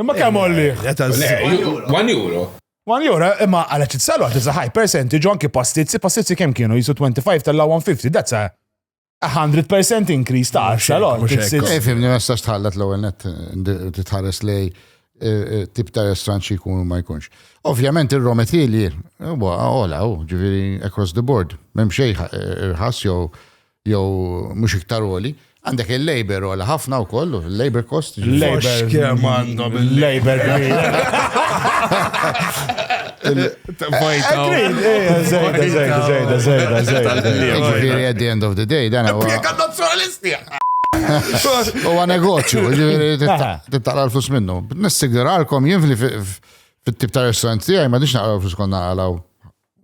Imma kemm għollih? Eta Le, z- ju- One euro. One euro, imma għala titsalu għat iżda high percentage, u anki pastizzi, pastizzi kemm kienu jisu 25 tal-law 150, that's a a 100% increase ta' 10 lot. mhux hekk. It's- it's- Eh, fimni, ma stax tħallat l-ewwel net eh, titħares lej eh, eh, tip ta' restaurant xi jkun u ma jkunx. Ovvjament ir-raw material huwa ola, hu, ġifieri across the board. M'hemm xejn ħa- eh, irħas jew jew mhux iktar għoli, għandek il-labor għola ħafna wkoll, il-labor cost. Il-labor kemm għandhom il-labor At the end of the day, dan huwa. Huwa negozju, ġifieri titaqra l-flus minnu. Nissiguralkom jien fit-tip ta' restaurant tiegħi ma nix naqra l-flus konna naqraw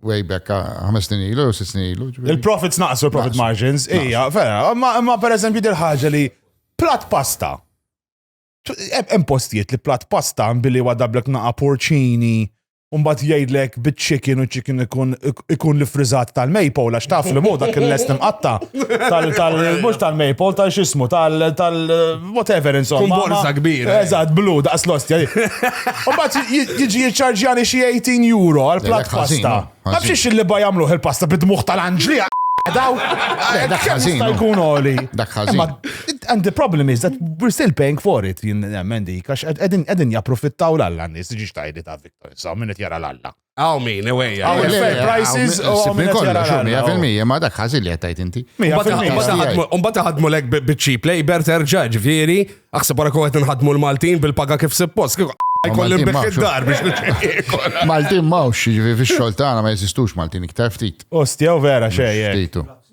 way back ħames snin ilu, jew sitt snin ilu. Il-profits naqsu, il-profit margins, ija, vera, ma per eżempju dil ħaġa li plat pasta. Hemm postijiet li plat pasta billi wadablek naqa porċini, Umbat jgħidlek bit-chicken u chicken ikun li frizzat tal-maple, għax taf li mu dak il-lest imqatta tal-mux tal-maple, tal-xismu, tal- whatever insomma. Kun borza kbira. Eh. Eżatt, blu, daqs lost. Umbat jiġi jiċċarġjani xi 18 euro għal plat pasta. Ma bxiex li ba jagħmluh il-pasta bid-dmuħ tal-anġli. Daw, dak ħażin. Jkun oli. Dak ħażin. And the problem is that we're still paying for it, jien nemmen dik, għax qegħdin japprofittaw l-alla nies, ġiġ tajdi ta' Victor, sa' minnet jara l-alla. Għaw min, ewejja. Għaw minn fair prices u għaw minn kollha xum, mija fil-mija, ma dak ħażin li għattajt inti. Umbata ħadmu lek bit-cheap labor terġa' ġifieri, aħseb wara kowet nħadmu l-Maltin bil-paga kif suppost, kif jkollim biex id-dar biex Maltin mawx, ġifieri fix-xogħol tagħna ma jeżistux Maltin iktar ftit. Ostja u vera xejn.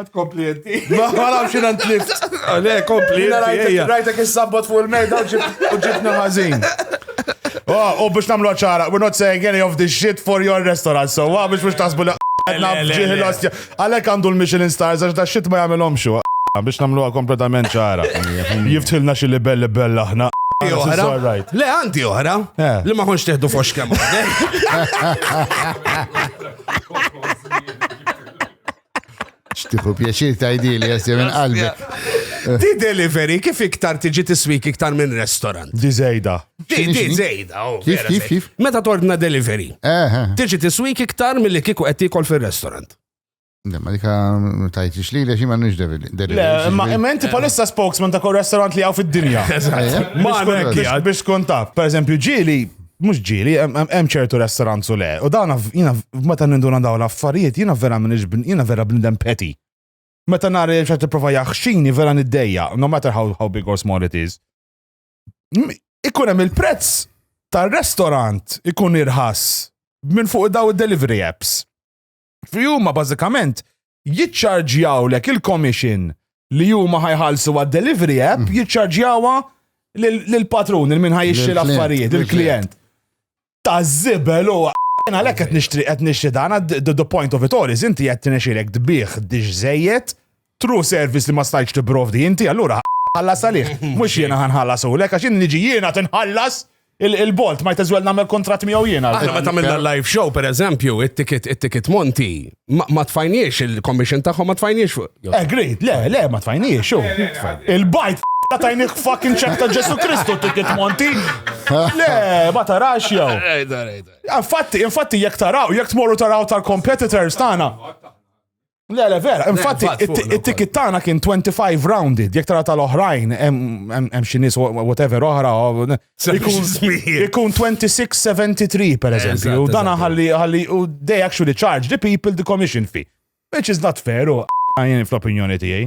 Għad kompli jenti. Ma għalam xin għant lift. Le, kompli jenti. Rajtek il-sabbot fuq il-mejda u ġibna mażin. Oh, u biex namlu ċara, we're not saying any of this shit for your restaurant, so għa biex biex tasbu li għadna bġiħi l-ostja. Għalek għandu l-Michelin stars, għax da shit ma jgħamilom xo. Biex namlu għa kompletament ċara. Jiftħilna xilli belli bella ħna. Le, għanti oħra. Eh. Li ma konx teħdu fox kemm. Xtiħu pjaċir tajdili, jassi minn qalbi. Di delivery kif iktar tiġi tiswik iktar minn restaurant. Di zejda. Di zejda, oh, Kif, kif, kif? Meta tordna delivery. Eh, eh. Tiġi tiswik iktar mill-li kiku qed tikol fil-restaurant. Ma dika tajtix li lex ma nix delivery. Ma inti palissa spokesman ta' kol restaurant li għaw fid-dinja. Ma biex kontaf. Per eżempju ġili mhux ġieli, hemm ċertu restaurant u le. U dawn jiena meta ninduna dawn l-affarijiet jiena vera minix jiena vera bnidem peti. Meta nara li xi tipprova jaħxini vera niddejja, no matter how, how big or small it is. Ikun hemm il-prezz tar-restaurant ikun irħas minn fuq daw id-delivery apps. Fi huma bażikament jiċċarġjawlek il-commission li huma ħajħallsu għad-delivery app mm. jiċċarġjawha lill-patrun il-min ħajixxi l-affarijiet, il-klient. Ta' żibel u Jena lek qed nixtri qed nixtri dan the point of it all is inti qed tinexilek tbih diġ żejjed True service li ma stajtx tipprovdi inti, allura ħallas għalih. Mhux jiena ħa nħallasulek għax jien niġi jiena tinħallas il-bolt, might as well nagħmel kuntratt miegħu jiena. Aħna meta għamilna l-live show pereżempju, it-ticket it-ticket Monti, ma tfajniex il-commission tagħhom ma tfajniex fuq. Agreed, le, le, ma tfajniex. Il-bajt ta' tajnik fucking ċek ta' Ġesu Kristu ticket Monti. Le, ma tarax jew. Infatti, infatti jekk taraw, jekk tmorru taraw tal-competitors tagħna. Le, le, vera, infatti, it-ticket tagħna kien 25 rounded, jek tara tal-oħrajn, hemm xi nies whatever oħra, ikun 2673 per eżempju, dana ħalli ħalli u they actually charge the people the commission fee, which is not fair u għajn fl-opinjoni tiegħi.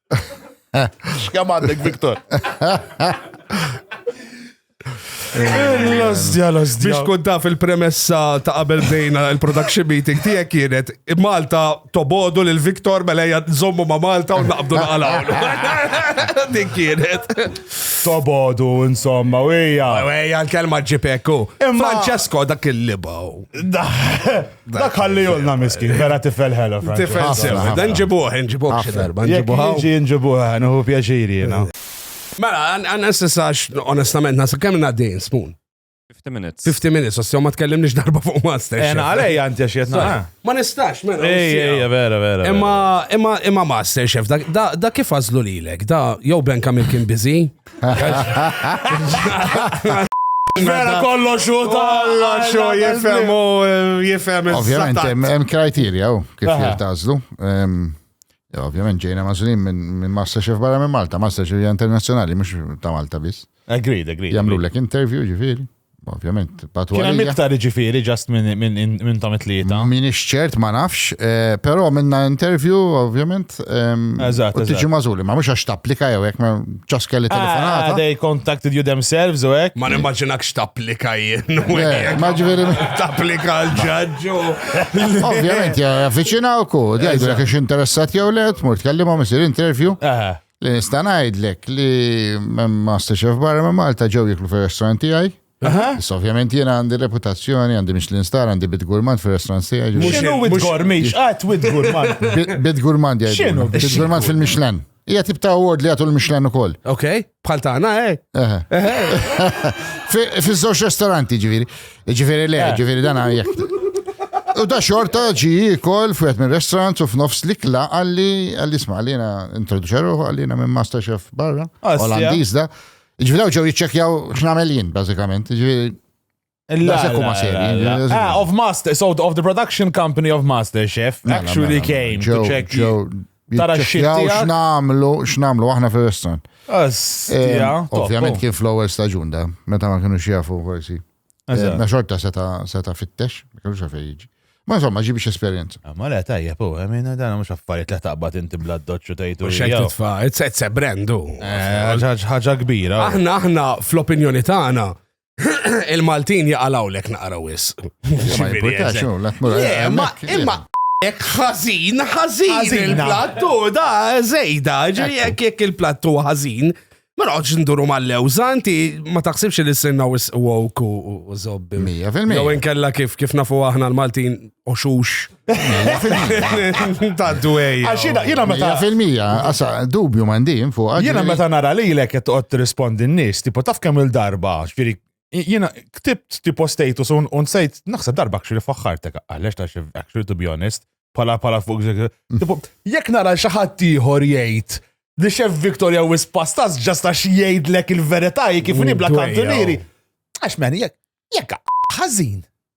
Xkam għandek, Viktor? L-ozdja, l-ozdja. Biex kun taf il-premessa ta' qabel bdejna il-production meeting tiegħek kienet Malta tobodu lil Viktor mela hija nżommu ma' Malta u naqbdu naqalaw. Din kienet. Tobodu, insomma, u hija. Ejja l-kelma ġipekku. Francesco dak il-libaw. Dak ħallihulna miskin, vera tifel ħela. Tifel sewa, dan ġibuħ, nġibuħ xi darba, nġibuħ. Ġi nġibuħ, nħu pjaċiri jena. Mela, għan s-sax, onestament, nasa kemm naddejn spoon. 50 minutes. 50 minutes, għas ma tkellim nix darba fuq master. Ena, għalej għanti għaxiet naħna. Ma nistax, mela. Ej, ej, vera, vera. Imma, imma, imma master chef, da kif għazlu li l-ek, da jow Ben Kamil kien bizi, Vera kollox u kollox u jifhem u jifhem. Ovvjament, hemm kriterja u kif jirtażlu. Ovvjament ġejna mażulin minn Masterchef barra minn Malta, Masterchef internazzjonali, mhux ta' Malta biss. Agreed, agreed. Jamlu lek interview ġifieri. Ovvjament, patu Kien miktar ġifiri ġast minn tom it-tlieta. Min ċert ma nafx, eh, però minna intervju, ovvjament. Eżatt. Tiġi mażuli, ma mhux għax tapplika jew hekk ma ċaske li ah, telefonata. Ah, they contacted you themselves u hekk. Ma nimmaġinakx tapplika jien. Eh, ma ġifieri. Tapplika l-ġaġġu. Ovvjament, avviċinawku, dejdu jekk interessat jew le, tmur tkellimhom isir intervju. Eh. Li nista' ngħidlek li Master Chef barra ma' Malta ġew jiklu fir-restaurant tiegħi. Issa ovvjament jiena għandi reputazzjoni, għandi Michelin star, għandi bit gurmand fir-restaurant tiegħi. ġifieri- X'inhu wid gormi? X'qatt wid gurman? Bit- Bit gurmand jgħidu. X'inhu bit Bit gurmand fil-Michelin. Hija tip ta' award li jagħtu l-Michelin ukoll. Ok, bħal tagħna, eh? Eħe. Fi- Fiż-żewġ restoranti ġifieri. Ġifiri le, ġifiri dan għajek. U da xorta ġi kol fwet minn restaurant u f'nofs likla għalli għalli sma għallina introduċeru għallina minn master chef barra. Ah, Olandiz da. Ġifiri daw ġew jitċekjaw x'namel jien, bażikament. Ġifiri. Ah, of Master, so of the production company of Master Chef actually came to check. Tara x-xit Jitċekkjaw tiegħek. x'namlu, x'namlu aħna fir-restaurant. Astja, Em, top, Ovvjament oh. kien fl-ewwel staġun da, meta ma kienu jafu forsi. Eżatt. Em, Na xorta seta seta fittex, ma kienux għafej jiġi. Ma insomma, ġibi esperjenza. Ah, Ma le tajja, po, għamina dan mux affarijiet li taqbad inti bla doċċu tajtu. U xek titfa, it's it's a brand u. Eh, Ħaġa kbira. Aħna aħna fl-opinjoni tagħna Il-Maltin jaqalawlek naqra wis. Ma jibburtax, u la tmur Le, ma hemmhekk, jien. imma ek ħażin, ħażin Ħażina. il-plattu, da żejda, ġifieri jekk jekk il-plattu ħażin, ma noqgħodx nduru mal-lewża, inti ma taħsibx li s-sinna wis woke u u- u zobbi. Mija fil-mija. Jew inkella kif kif nafu aħna l-Maltin oxux. Ta' dwej. Għax jina, jina meta. Fil-mija, għasa, dubju mandin fuq. Jina meta nara li l-ek jtqot rispondi n-nis, tipo taf kemm il-darba, ġviri, jina ktibt tipo status un un sejt, naħseb darba kxiri faħħartek, għallex ta' xif, actually to be honest, pala pala fuq, tipo, jek nara xaħat tiħor jgħid, li xef Victoria wis pastas ġasta xiejd lek il-veritaj kif nibla kantunieri. Għax men, jek, jek, ħazin.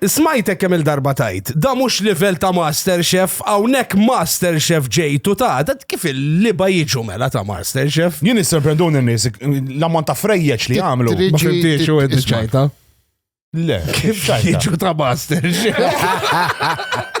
Smajtek kemm-il darba tgħid, dan mhux livell ta' Master Chef, hawnhekk Master Chef ġejt u ta, da kif il-liba jiġu mela ta' Master Chef? Jien jissorprenduni n-nies, l-ammont ta' frejjeġ li jagħmlu. Ma fimtiex u inti ċajta? Le, kif ċajta? Jiġu ta' Master Chef.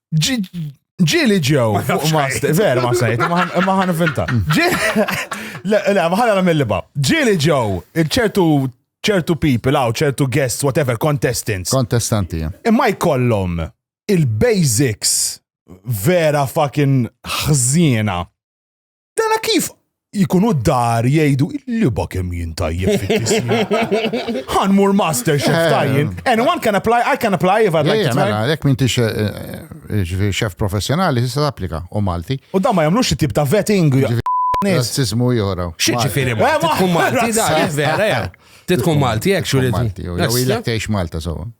Ġili ġew fuq master, vera ma sejt, ma ħan finta. Le, ma ħan għal mill-liba. Ġili ġew, ċertu ċertu people għaw, ċertu guests, whatever, contestants. Kontestanti, ja. Imma jkollhom il-basics vera fucking ħżiena. Dana kif jkunu d-dar jgħidu li ba kemm jien tajjeb fit-tismi. Ħanmur master chef eh. tajjin. Anyone can apply, I can apply if I'd like to try. Jek minn tix eh, eh, chef professjonali tista' tapplika u Malti. U da ma jagħmlux it-tip ta' vetting. Razzismu jora. Xieġifiri, ma tkun Malti, da, vera, tkun Malti, jek xuridu. Jew ilek teħx Malta, so.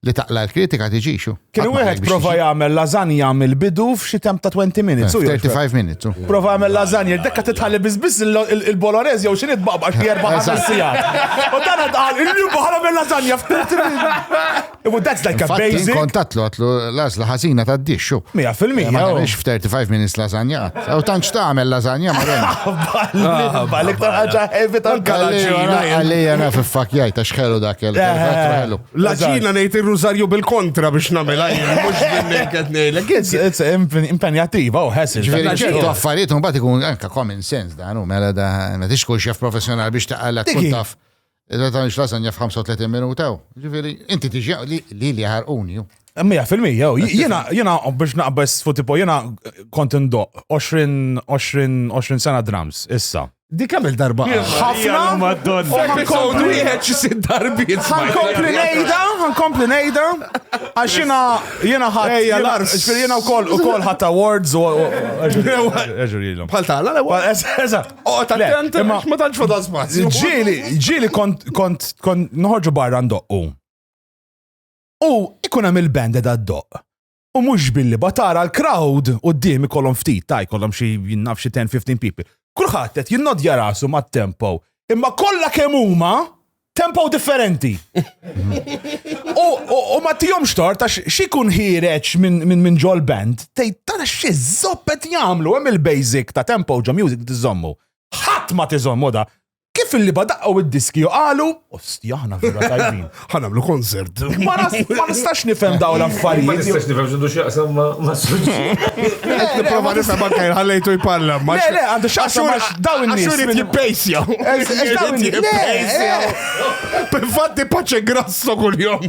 li taqla l-kritika tiġixu. Kien wieħed prova jagħmel lażanja mill-bidu f'xi temp ta' 20 minutes. 35 eh, minutes. Oh. Prova jagħmel lażanja, dekka titħalli biss biss il-Bolognese jew xi nitbaqbax li erba' ħames sigħat. U dan qal illi baħra mill lażanja f'30 minutes. U that's like a basic. Kontat lu għatlu lażla ħażina ta' dixxu. Mija fil-mija. Ma nix oh. f'35 minutes lażanja. U tantx tagħmel lażanja ma ah, Balik ta' ħaġa heavy tal-kalaġina. Għalija naf iffakjajt għax ħelu dak il-ħelu. Laġina ngħid ir-rużarju bil-kontra biex nagħmel għajn, mhux bil-naked ngħidlek. It's impenjattiva u ħessil. Ġifieri ċertu affarijiet mbagħad ikun anke common sense dan u mela da ma tix kull xef professjonali biex taqalla tkun taf. Iżda ta' nix lasanja f'35 minuta. Ġifieri inti tiġi li li ħarquni. Mija fil-mija, jena, jena, biex naqbess fuq tipo, jena kont indoq 20 sena drums, issa. Di kemm il-darba ħafna Madonna. Episode wieħed xi sitt darbiet. Ħankompli ngħidha, ħankompli ngħidha. Għax jiena jiena ħadd. Ejja l-ars. Ġifieri jiena wkoll ukoll ħadd awards u eġrilhom. Bħal tagħna l-ewwel. Eżatt. Oqgħod attent imma ma tantx fadal spazju. Ġieli, ġieli kont kont kont noħorġu barra ndoqqu. U ikun hemm il-band da ddoq. U mhux billi batara l-crowd quddiem ikollhom ftit ta' jkollhom xi naf xi 10-15 people. Kulħadd qed jinnodja rasu mat-tempo, imma kollha kemm huma tempo differenti. U ma tihomx tort għax xi jkun ħiereġ minn minn ġol band, tgħid tara xi żopp qed jagħmlu hemm il-basic ta' tempo ġo music tiżommu. Ħadd ma tiżommu da. Kif illi badaqqaw id-diski u qalu, osti aħna vera tajbin. Ħanamlu konsert. Ma nistax nifhem daw l-affarijiet. Ma nistax nifhem x'indu x'jaqsam ma' suġġi. Nipprova nifhem anke ħallejtu jpalla. Le, le, għandu x'aqsam daw in-nies. X'urid jippejsja. Infatti paċe grasso kuljom.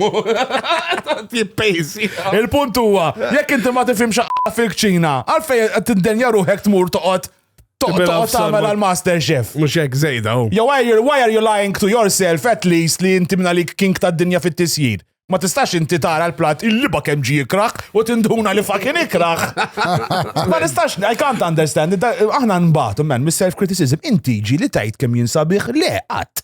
Jippejsi. Il-punt huwa, jekk inti ma tifhimx fil-kċina, għalfejn qed tindenja ruħek tmur toqgħod Toqgħod tagħmel għal master chef. Mhux hekk żejda hu. Jew why are you lying to yourself at least li inti minna lik king tad-dinja fit-tisjir? Ma tistax inti tara l-plat il-liba kemm ġi ikraħ u tinduna li fakin ikraħ. Ma nistax, I can't understand. Aħna nbatu, man, mis-self-criticism, inti ġi li tajt kemm jinsabiħ le qatt.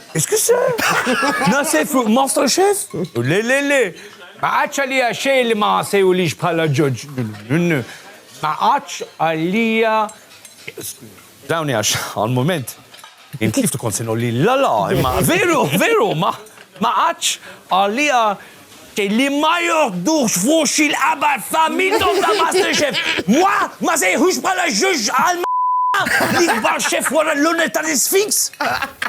Eskuse? Nase fuq Master Chef? Le, le, le. Ma għadx għalija xejn li ma sejulix bħala ġoġ. Ma għadx għalija. Dawni għax għal-moment. Inti kif tkun sinu li la la, imma veru, veru, ma għadx għalija Li ma joħdux f'uxxi l-qabar ta' minnhom ta' Master Chef. Wa, ma sejħux bħala ġuġ għal l-ikbar chef wara l-onor tal-Isfinx?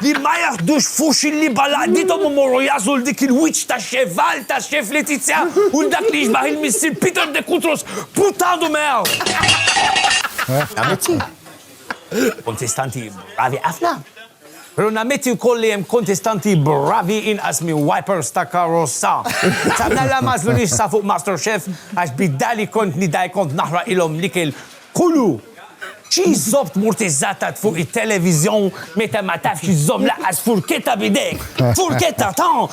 Li ma jaħdux f'uxxi li bħal għaqdiethom imorru jagħżlu 'l dik il-wiċċ ta' chef Val, ta' chef Letizia u 'l dak li jixbah il-missier Peter de Kutros, puttadu miegħu! Amici! Kontestanti bravi ħafna! Pero nammetti wkoll li hemm kontestanti bravi inqas minn wipers ta' karozza. Sa mela m'għażlunix sa fuq MasterChef għax bid-dar li kont nidgħi kont naħraqilhom l-ikel kullu. Xi żopp tmurtiżżatat fuq it-televiżjon meta ma tafx iżżomm lanqas furketta b'idejk! Furketta ta!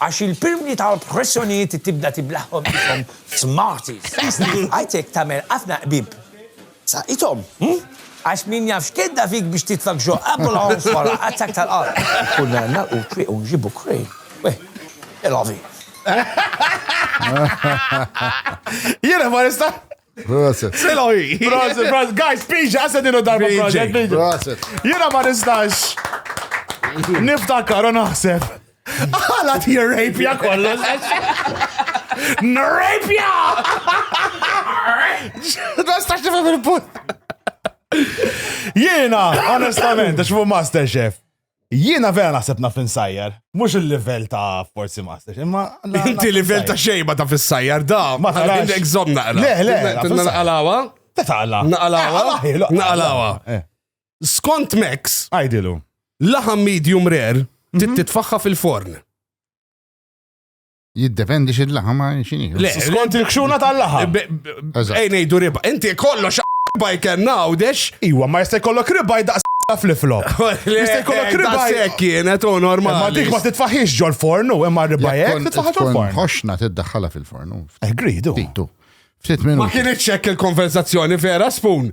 Għax il-pirmli tal-pressjonijiet tibda tiblaħhom qishom f'smarties. Għajtek tagħmel ħafna qbib sa qithom, għax min jaf x'kedda fik biex titfak ġo abulons wara attakk tal-qalb. Konna nagħlqu t-twieq u nġibu crane. Weh, tel avi. Jiena ma nista'. Proset. Tel avi. Proset, proset. Guys, piġa, għased inu darba proset. Proset. Jiena ma nistax. Niftakar u naħseb. Għala ti rapja kollox. N-rapja! Ma stax nifhem il-punt. Jiena, onestament, għax fuq Masterchef. Jiena vera naħseb naf insajjar. Mux il-level ta' forsi Masterchef, imma. Inti level ta' xejba ta' fissajjar, da. Ma ta' għandek zom naqra. Le, le, naqalawa. Ta' taqla. Naqalawa. Naqalawa. Eh. Skont Max, Għajdilu. laħam medium rare trid titfaħħa fil-forn. Jiddependi xi laħam għal xini. Le, Skont il-kxuna tal-laħam. b- b- Eżatt. Ej ngħidu riba. Inti kollox baj kellna għawdex. Iwa, ma jista' jkollok ribaj daqs ta' flip-flop. Jista' jkollok ribaj. Sekk kienet u Ma normali. dik ma titfaħiex ġol fornu, imma ribajek titfaħħa ġol fornu. Ħoxna tiddaħħala fil-fornu. Eh, gridu. Titu. Ftit Ma minuti. kienitx hekk il-konversazzjoni vera spoon.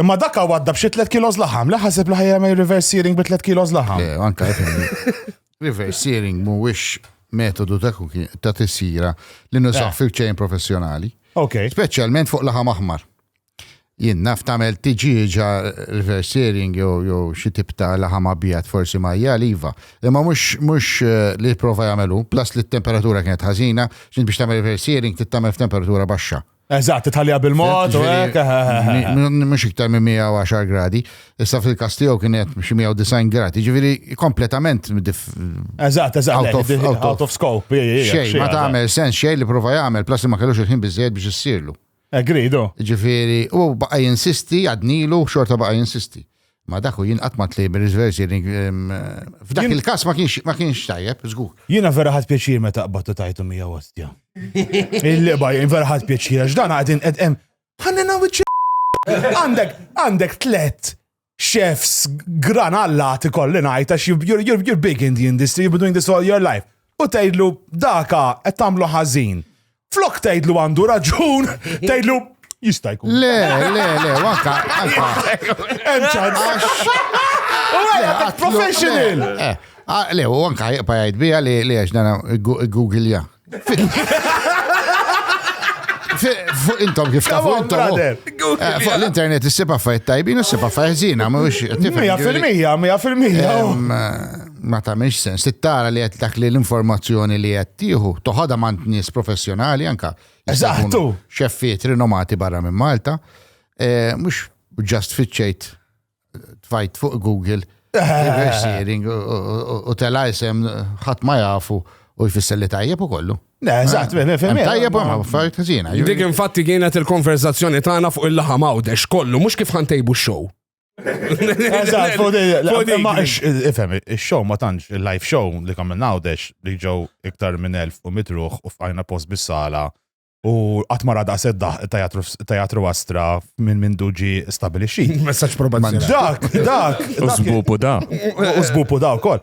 Imma dak hawn għadda b'xi 3 kilos laħam, li ħaseb li ħajja jagħmel reverse searing bi 3 kilos laħam. Le, anka reverse searing mhuwiex metodu ta' cooking- ta' tissira li nużaw Eh. fil-ċejn professjonali. Ok. Speċjalment fuq laħam aħmar. Jien naf tagħmel tiġieġa reverse searing jew jew xi tip ta' laħam abjad forsi ma hija liva. Imma mhux mhux eh, li prova jagħmelu, plus li t-temperatura kienet ħażina, x'int biex tagħmel reverse searing trid tagħmel f'temperatura baxxa. Eżatt, titħallija bil-mod u hekk. eh, eh, eh, eh. Mi- Mhux iktar minn 110 gradi, issa fil-każ tiegħu kien qed xi 190 gradi, ġifieri kompletament dif- Eżatt, eżatt, Out le, of- di- out of- out of scope. ej, ej, ej, xejn, ma xejn, tagħmel sens xejn li prova jagħmel, plas li ma kellux il-ħin biżejjed biex issirlu. Agreed, oh. Ġifieri, u baqa' jinsisti, għadnilu, xorta baqa' jinsisti. Ma dak u jien qatt ma tlejb ir-reverse hearing f'dak il-każ ma kienx ma kienx tajjeb, żgur. Jiena vera ħadt pjaċir meta qbadt u tajtu mija ostja. Il-liqba jien vera ħadt pjaċir għax dan qegħdin qed hemm ħannina wiċċ Għandek għandek tlett chefs gran allati kolli ngħid għax you're big in the industry, you've been doing this all your life. U tgħidlu daka qed tagħmlu ħażin. Flok tgħidlu għandu raġun, tgħidlu jista' jkun. Le, le, le, waka, Hemm ċans. Professional. Eh, eh, ah, le, u anka jibqa' jgħid bija li li għax dana Google ja. Fuq intom kif ta' fuq intom. Eh, fuq l-internet s-sipa fajt tajbin u s-sipa fajt zina, ma' wix. Mija fil-mija, mija fil-mija. ma tagħmilx sens. Tittara li qed dak li l-informazzjoni li qed tieħu toħodha mant nies professjonali anka. Eżattu. Xeffiet rinomati barra minn Malta. Eh, mhux ġast fiċċejt tfajt fuq Google Reversing u tela jisem ħadd ma jafu u jfisser li tajjeb u kollu. Ne, eżatt, eh, eh, fem. Tajjeb u ma fajt kazina. Dik infatti kienet il-konverzazzjoni tagħna fuq il-laħam għawdex kollu, mhux kif ħantejbu x-show. Eżatt, fuq di. Ma ifhem, ix-show ma tantx, il-live show li kamil nawdex li ġew iktar minn elf u mitruħ u fqajna post bis-sala u qatt ma rada seddaħ tajatru astra minn minn duġi stabilixxi. Messaġġ probazzjonali. Dak, dak. U żbupu da. U żbupu da wkoll.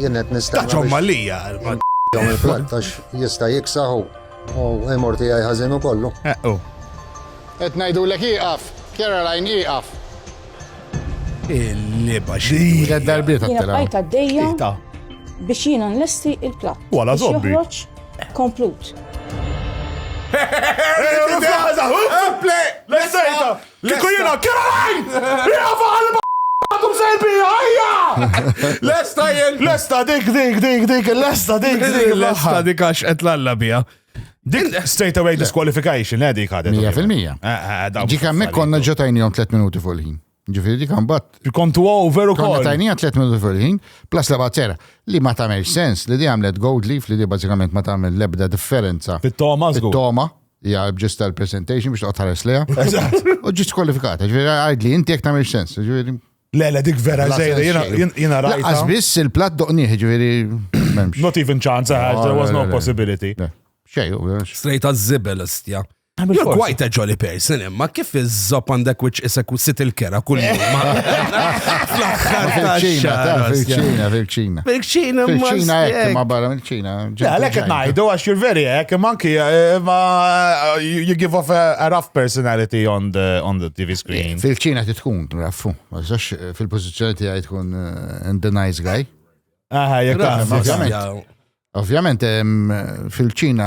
Jien qed nistenna. Taċom malija. Jom il-flat għax jista' jiksaħu u imur tiegħi ħażin ukollu. Eqqu. Qed ngħidulek ieqaf, Caroline ieqaf. Il-liba xi. Tliet darbiet għattilha. Bajt għaddejja biex jiena nlesti il-platt. Wala zobbi. Joħroġ komplut. Play! Let's say Kieku jiena Caroline! Hija fuq qalba għadhom sejbija, hija! Lesta jien! Lesta dik dik dik dik, lesta dik dik. Lesta dik għax qed l-alla bija. Dik straight away disqualification, eh, dik għadet. 100%. Eh, eh, dik hemmhekk konna ġo tajnihom 3 minuti fuq il-ħin. Ġifieri dik għambat. Kom tu over u konna tajnija 3 minuti fuq il-ħin, plus la bazzera li ma tagħmel sens li di għamlet gold leaf li di bażikament ma tagħmel lebda differenza. Fit-toma żgur. Fit-toma, hija ġist tal-presentation biex toqgħod ħares leha. Eżatt. U ġist kwalifikata, ġifieri għidli inti jekk tagħmel sens, ġifieri. Le, le, dik vera La żejra, jiena- sense xejn. jiena rajta. Laqqas biss il-platt doqnieh, ġifieri m'hemmx. Not even chance, eh, Ah, there was le, no le, le. possibility. Le, Xejn, u għax- Straight għaż-żibel istja. Għamil You're forsi. quite a jolly person imma kif iż-żob għandek which isek u sit il-kera kull jum. Fl-aħħar ta' Fil-ċina, ta' xahar, fil-ċina, fil-ċina. Fil-ċina, Fil-ċina hekk, ma barra mill-ċina. Għalek qed ngħidu għax you're very hekk, imma anki eh, ma eh, you give off a, a rough personality on the on the TV screen. Fil-ċina ti tkun, raffu, ma tistax eh, fil-pozizjoni tiegħi tkun eh, and the nice guy. Aha, jekk Raffu, taħseb. ovvjament. Ovvjament em, fil-ċina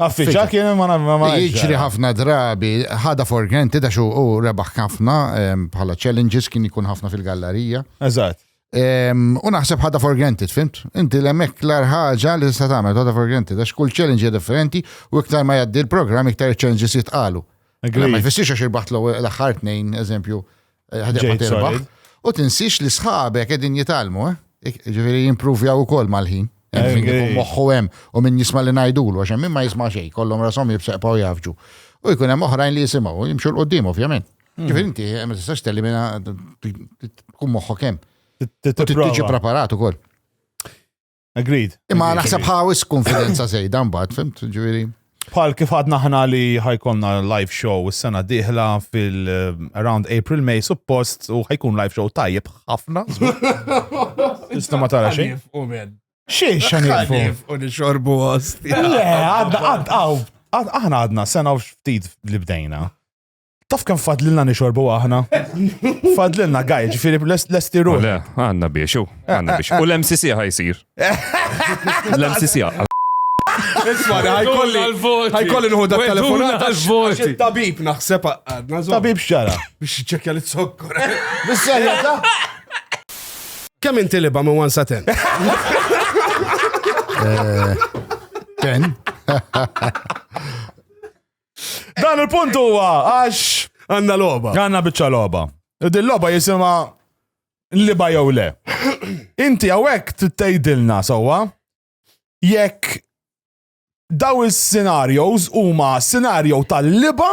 Affiċa kien ma ma Jiġri ħafna drabi, ħada for granted għax u rebaħ ħafna bħala challenges kien ikun ħafna fil-gallerija. Eżatt. U naħseb ħada for granted, fimt? Inti l-emek l-ar ħaġa li tista' tagħmel ħada for granted għax kull challenge differenti u iktar ma jgħaddi l-programm iktar challenges jitqalu. Ma jfissirx għax irbaħt l-aħħar tnejn, eżempju, eh, u tinsix li sħabek edin jitalmu, eh? ġifiri jimprovja u kol mal-ħin. Moħħu hemm u min jisma' li ngħidulu għax hemm ma jisma' xejn, kollhom rashom jibseqpaw jafġu. U jkun hemm oħrajn li jisimgħu jimxu l-qudiem ovvjament. Hmm. Ġifieri inti eh, ma tistax telimina tkun moħħok hemm. Tiġi preparat ukoll. Agreed. Imma naħseb ħawis konfidenza zejda mbagħad, fimt, ġifieri. Bħal kif għadna ħna li ħajkonna live show s-sena diħla fil-around eh, April, May, suppost, u ħajkun live show tajjeb ħafna. Tista ma tara xejn. Xie xan jirfu? U nixorbu għost. Le, għadna, għadna, aħna għadna sena u ftit li bdejna. Taf kem fadlilna nixorbu aħna? Fadlilna gaj, ġifiri l-esti ruħ. Le, għanna biex, u għanna biex. U l-MCC ħajsir. L-MCC Isma, ħajkolli ħajkolli nħu dak telefonat għal-voti. Tabib naħseb għadna. Tabib xara. Biex ċekja li t-sokkor. Bissajja ta' Kem inti liba minn 1 sa 10? Eh, ten. Dan il-punt huwa għax għandna logħba. Għandna biċċa logħba. Din logħba jisimha liba jew le. Inti hawnhekk tgħidilna sewwa jekk daw is-scenarios huma scenario tal-liba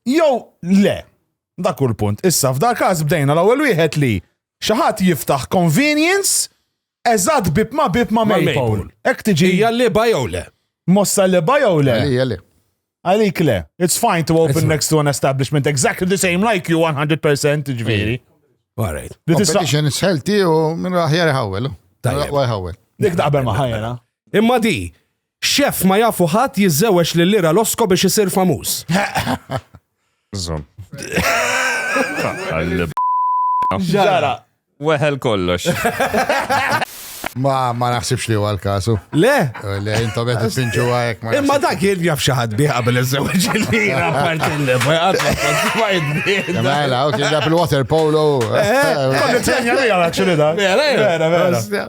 jew le. Dak hu l-punt. Issa f'dak każ bdejna l-ewwel wieħed li Xi ħadd jiftaħ convenience eżatt bieb ma' bieb ma' Maypole. Hekk tiġi. Hija lieba jew le? Mossa lieba jew le? Għalija le. Għalik le. It's fine to open next to an establishment exactly the same like you 100% ġviri. Alright. Competition is healthy u minn raħjar iħawel. Tajjeb. Dik daqbel ma ħajjena. Imma di, X'eff ma jafu ħadd jiżżewweġ lil Ira Losko biex isir famuż. Żomm. Ġara. Weħel kollox. Ma ma naħsibx li huwa l-kasu. Le? Eh, le, intom qed tinġu għajek ma. Imma dak jien jaf xi ħadd bih qabel iż-żewġ il-lira partilli, ma jgħadna Mela, ok, ġab il-water polo. Eh, eh, Konni t-tenja li għal-akxu li da. Vera, vera, vera.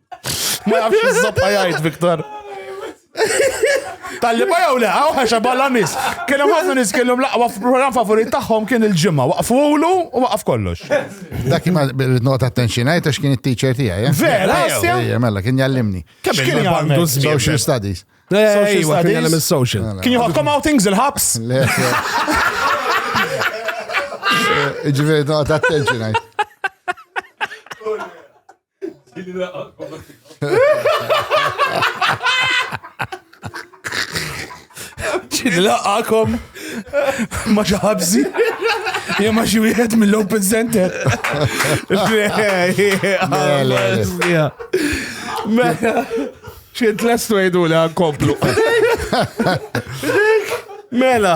Ma jafx iż-żabqa jgħid, Viktor. Talli ba jew le, għaw ħaxa balla nis. Kienu ħafna nis kienu laqwa program favorit tagħhom kien il-ġimgħa. Waqfu ulu u waqaf kollox. Dak ma nota attention għajt għax kien it-teacher tiegħi. Eh? Vera, Ejja, mela kien jallimni. Kemm kien għandu social studies. Social studies. Social. Mela. Kien jħokkom outings il-ħabs? Le. Ġifieri nota attention għajt. Ġin laqakom ma ġaħabzi. Ja ma xi wieħed mill-Open Center. Mela. Xint lestu jgħidu li għankomplu. Mela.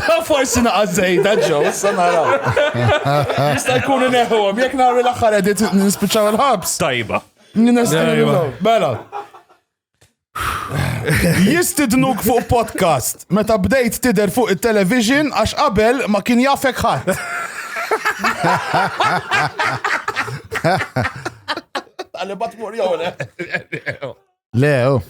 Da forsi naqqa zejda ġo, sa nara. Jista' jkun neħuhom, jekk nagħmlu l-aħħar edit nispiċċaw il-ħabs. Tajba. Bela. Jistidnuk fuq podcast meta bdejt tider fuq il-television għax qabel ma kien jafek ħadd. Għalli bat mur jowle. Le, oh.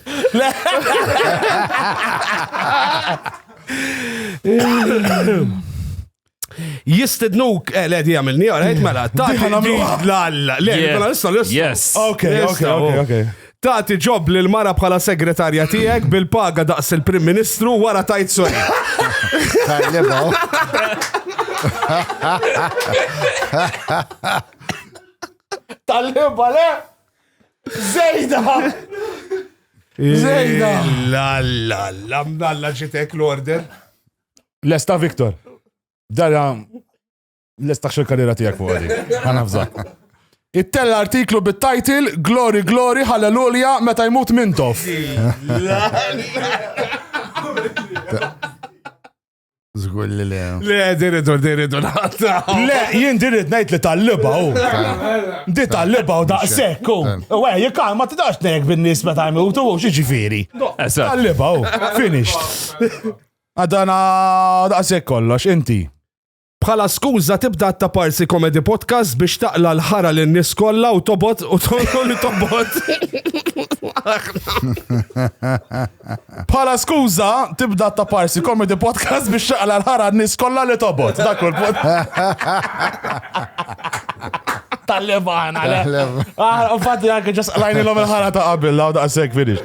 Jistednuk, eh, le, di għamilni, għarajt mela, ta' l-alla, le, mela, nista' l Yes. Ok, ok, ok, ok. Tati ġob li l-mara bħala segretarja tijek bil-paga daqs il-Prim Ministru wara tajt sori. Tal-liba, le? Zejda! Zejda! La la la mdalla ġitek l-order. Lesta Viktor. Dara lesta xil karriera tijak fuq għadi. Għanafza. Ittella artiklu bit-title Glory Glory Hallelujah meta jmut Mintoff. Zgur li le. Le, diridu, diridu naħta. Le, jien dirid najt li tal-liba u. Di tal-liba u daqsek u. U għaj, jikal, ma t-dax nejk bin-nis meta jmutu u xieġifiri. Tal-liba u, finished. Għadana daqsek kollox, inti. Bħala skuża tibda ta' parsi komedi podcast biex taqla l-ħara lin nies kollha u tobot u tolli tobot. Bħala skuża tibda ta' parsi komedi podcast biex taqla l-ħara lin nies kollha li tobot. Dak kull pod. Tal-levan, għale. Tal-levan. Ah, Fatti għanke ġas lajni l-om il-ħara ta' qabil, law da' sekk finish.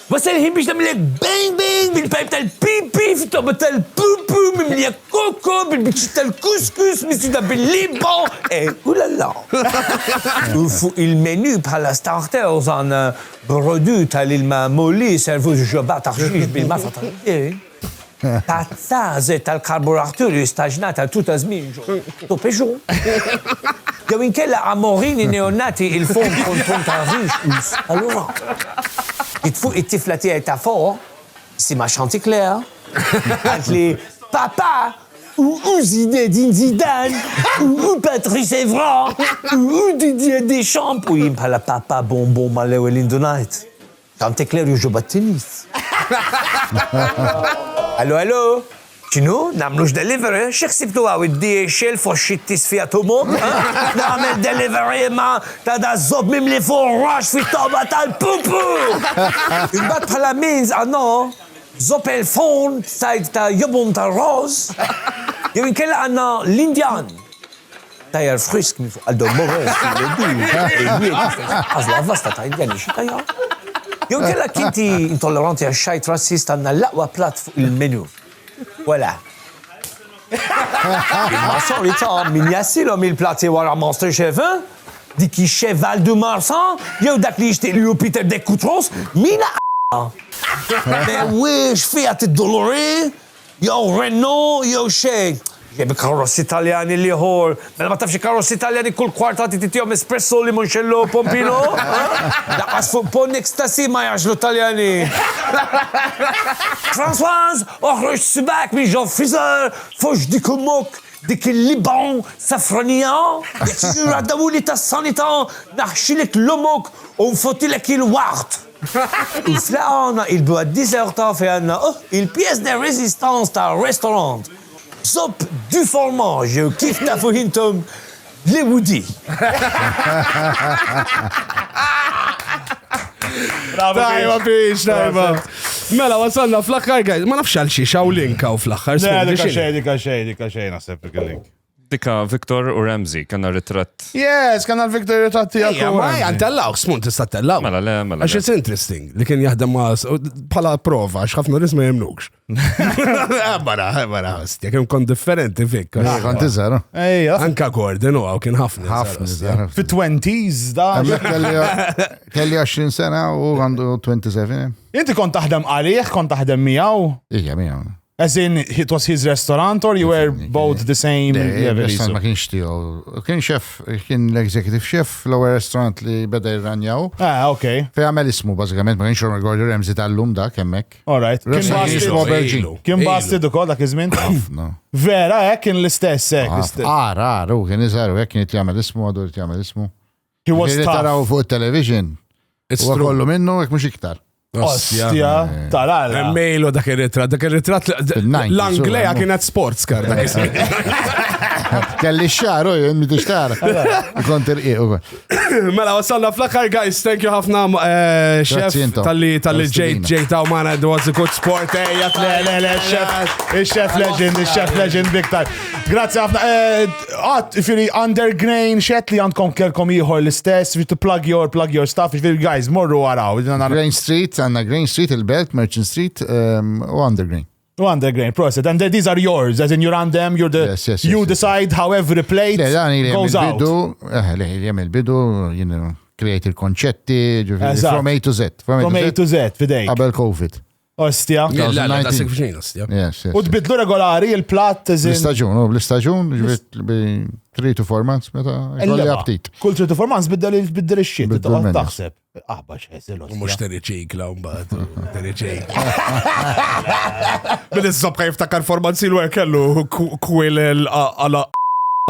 Wasal il-ħin biex nagħmillek bang bang bil-pajp tal-pipi fit-tobba tal-pupu mimlija koko bil-biċċiet tal-kuskus misjuda bil-libgħa e ulala! U fuq il-menu bħala starters għandna brodu tal-ilma Mollie servuż b'xorba ta' ħxiex bil-masa tal-ħdejn. Tazza żejt tal-karburaturi jistaġnat għal tul ta' żmien ġo tupixu. Jew inkella amorini neonati il-fomm konton ta' rixus. Allura ġiet fuq it-tifla tiegħi ta' fuq, isimha Chanticleer, qaltli, Papà, u hu Zinedine Zidane, u hu Patrice Evra, u hu Didier Deschamps, u jien bħala papà bonbon mal-ewwel indunajt. Chanticleer Juju Battinis. Hello hello! X'inhu? Nagħmlux delivery? Xi ħsibtu hawn id-DHL fost xi tisfija tumur? Nagħmel delivery imma ta' daż-żopp mimli furrax fit-togħba tal-pupu! Imbagħad bħala means à non, żopp il-forn b'sajd ta' jobom tar-roż, jew inkella għandna l-Indjan. Tajer frisk minn fuq għal Don Morris, għazla vasta ta' indjani xi tajja. Jew kella kinti intolleranti għax xajt razzist għandna l-aqwa platt fuq il-menu. Wala. Imma sorry ta' min jassilhom il-platti wara Master Chef, eh? Dik ix-Cheval de Marsa jew dak li jixtieq lilu Peter Decoutros, min a. Mewwiex fiha tiddolori, Jew Renault jew xejn. Jekk b'karrozzi Taljani l-ieħor. Mela ma tafx il-karrozzi Taljani kull kwarta trid titihom Espresso, Limoncello, Pompino? Lanqas fuq Pont Ecstasy ma jagħżlu t-Taljani. Françoise, oħroġ sibgħek minn ġo l-friżer, foxx dik ommok, dik il-Liban safranija, jekk tiġi l-raddamuni tas-sanità naħxilek l-ommok u nfottilek il-waqt. Issa għandna il-Boîte des Arts ta' fejn għandna il-pièce de résistance tar-restaurant Zopp du Formage jew kif tafuh intom Le Woody. Tajba biex, tajba. Mela, wasalna fl-aħħar, guys. Ma nafx għal xiex, għaw link għaw fl-aħħar. Dika xej, dika xej, dika xej, naħseb dik il-link. Dika, Victor u Ramsey, kanna ritratt. Yes, kanna l-Victor ritratt tijak. Ja, ma jan tellaw, smun tista tellaw. Mela, le, mela. Għax it's interesting li kien jahdem ma pala prova, għax ħafna nisma jemnukx. Għabara, eh, għabara, eh, għastja, kien kon differenti fik. Ah, kont iżar. Ejja. Anka għordin u għaw kien ħafna. Ħafna. Fi 20s da. Kelli 20 sena u għandu 27. Inti kont taħdem għalih, kont taħdem miegħu? Ija, miegħu. As in, it was his restaurant or you were both the same level? Restaurant ma kienx tiegħu. Kien chef, kien l-executive chef l-ewwel restaurant li beda jirranjaw. Ah, ok. Fej għamel ismu bażikament, ma kienx Ron Gordon Ramsey tal-lum dak hemmhekk. All right. Kien basti Aubergin. Kien basti ukoll dak iż-żmien. Vera, hekk eh, kien l-istess hekk. Eh, ah, Ara, ara, kien iżgħar hekk eh, kien jagħmel ismu għadu jagħmel ismu. He was Ġifieri tough. taraw fuq it-television. It's Huwa true. kollu minnu jekk mhux iktar. Ostja. Ostja, tarala. Emmejlu dak ir-ritratt, dak ir-ritratt Fil-90s, l-Anglea u- kienet sports car. dak iż-żmien. Kelli x-xar, u jien mi tixtar. Kont irqiq ukoll. Mela, wasalna fl-aħħar, guys, thank you ħafna, eh, chef, Grazzi intom. tal-li tal-li ġejt Tal-istedina. ġejt għaw maħna, it was a good sport, eh, ejja, le, le, le, chef, il-chef legend, il-chef legend big time. Grazzi ħafna, eh, Għat, firri, under grain, xet li għandkom kelkom ieħor l-istess, to plug your, plug your stuff, firri, guys, morru għaraw. Grain Street, għanna Grain Street, il-Belt, Merchant Street, um, u under grain. U under grain, proset. And these are yours, as in you're on them, you're the, yes, yes, yes, you decide yes. how every plate le, dan goes out. Bidu, eh, le, jem il-bidu, you know, create il-konċetti, from A to Z. From A to Z, fidej. Qabel COVID. Ostja. Jien la- la- la- 2019. sik- ostja. Yes, yes. U tbidlu regolari il-plat teżin. L-istaġun, u l-istaġun ġbit bi 3 to 4 months meta jkolli aptit. Kull tritu formans biddel il- biddel ix-xit. Biddel Toqgħod menu. taħseb. Aħba xeżil U mux ostja. teri ċikla un bat, teri ċikla. Bil-izzobka jiftakar formanzi l kellu kwil għala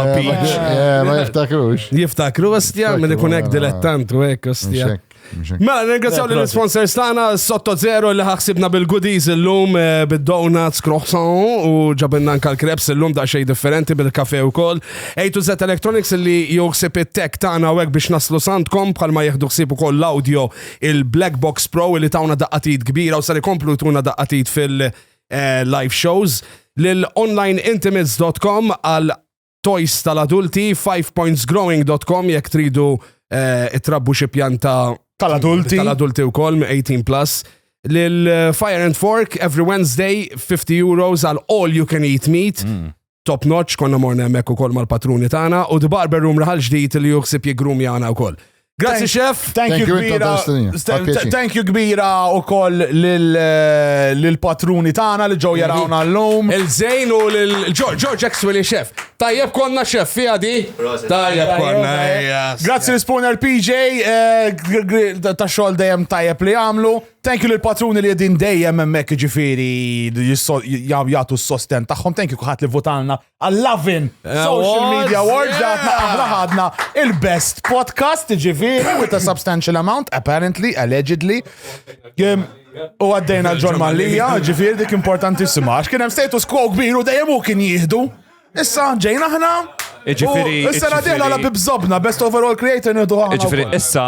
Eh, Ma jiftakrux. Jiftakru, ostja, minn ikun hekk dilettant u hekk, ostja. Xek. Mela, ringrazzjaw li l-sponsors tagħna sotto zero li ħaxibna bil-goodies illum eh, bid-donuts, croissant u ġabinna anka l-kreps illum da xej differenti bil-kafe wkoll. A to Z Electronics li joħsib it-tech tagħna u biex naslu santkom bħalma jieħdu ħsieb ukoll l-audio il-Black Box Pro li tawna daqqatit kbira u sar ikomplu tuna daqqatit fil-live eh, shows lil onlineintimates.com għal toys tal-adulti, 5pointsgrowing dot com jekk tridu eh, itrabbu xi pjanta tal-adulti. Tal-adulti wkoll me 18 plus. Lil eh, Fire and Fork every Wednesday 50 euros għal all you can eat meat. Mm. Top notch, konna morna hemmhekk ukoll mal-patruni tagħna u The Barber Room raħal ġdid li juħsib jigrum jagħna wkoll. Grazzi chef. Thank you kbira. Thank you kbira u koll eh, l-patruni tana li ġew jarawna l-lum. Il-żejn u l-George Axwell chef. Tajjeb konna chef fija di. Tajjeb konna. Grazzi l-spooner PJ eh, ta' xogħol dejjem tajjeb li għamlu. Thank you l-patruni li jedin dejjem hemmhekk ġifieri jagħtu s-sosten tagħhom. Thank you kuħat li votalna għall-Lovin Social Media Awards għadna aħna ħadna il-best podcast ġifiri with a substantial amount, apparently, allegedly. U għaddejna John Mallia, ġifiri dik importantissima, għax kien hemm status quo kbir u dejjem u kien jihdu. Issa ġejna aħna. Ġifiri. Issa għadina la bibżobna, best overall creator nidu għahna. Ġifiri, issa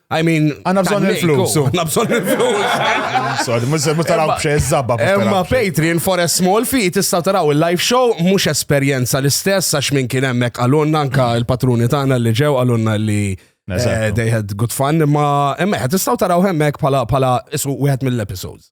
I mean, għanna bżon il-flus. Għanna bżon il-flus. Sorry, mux taraw bxie zabba. Emma Patreon for a small fee tista taraw il-live show mux esperienza l-istess għax minn kien emmek għalunna anka il-patruni tagħna li ġew għalunna li eh, they had good fun imma emmek tistaw taraw emmek pala pala isu wieħed mill-episodes.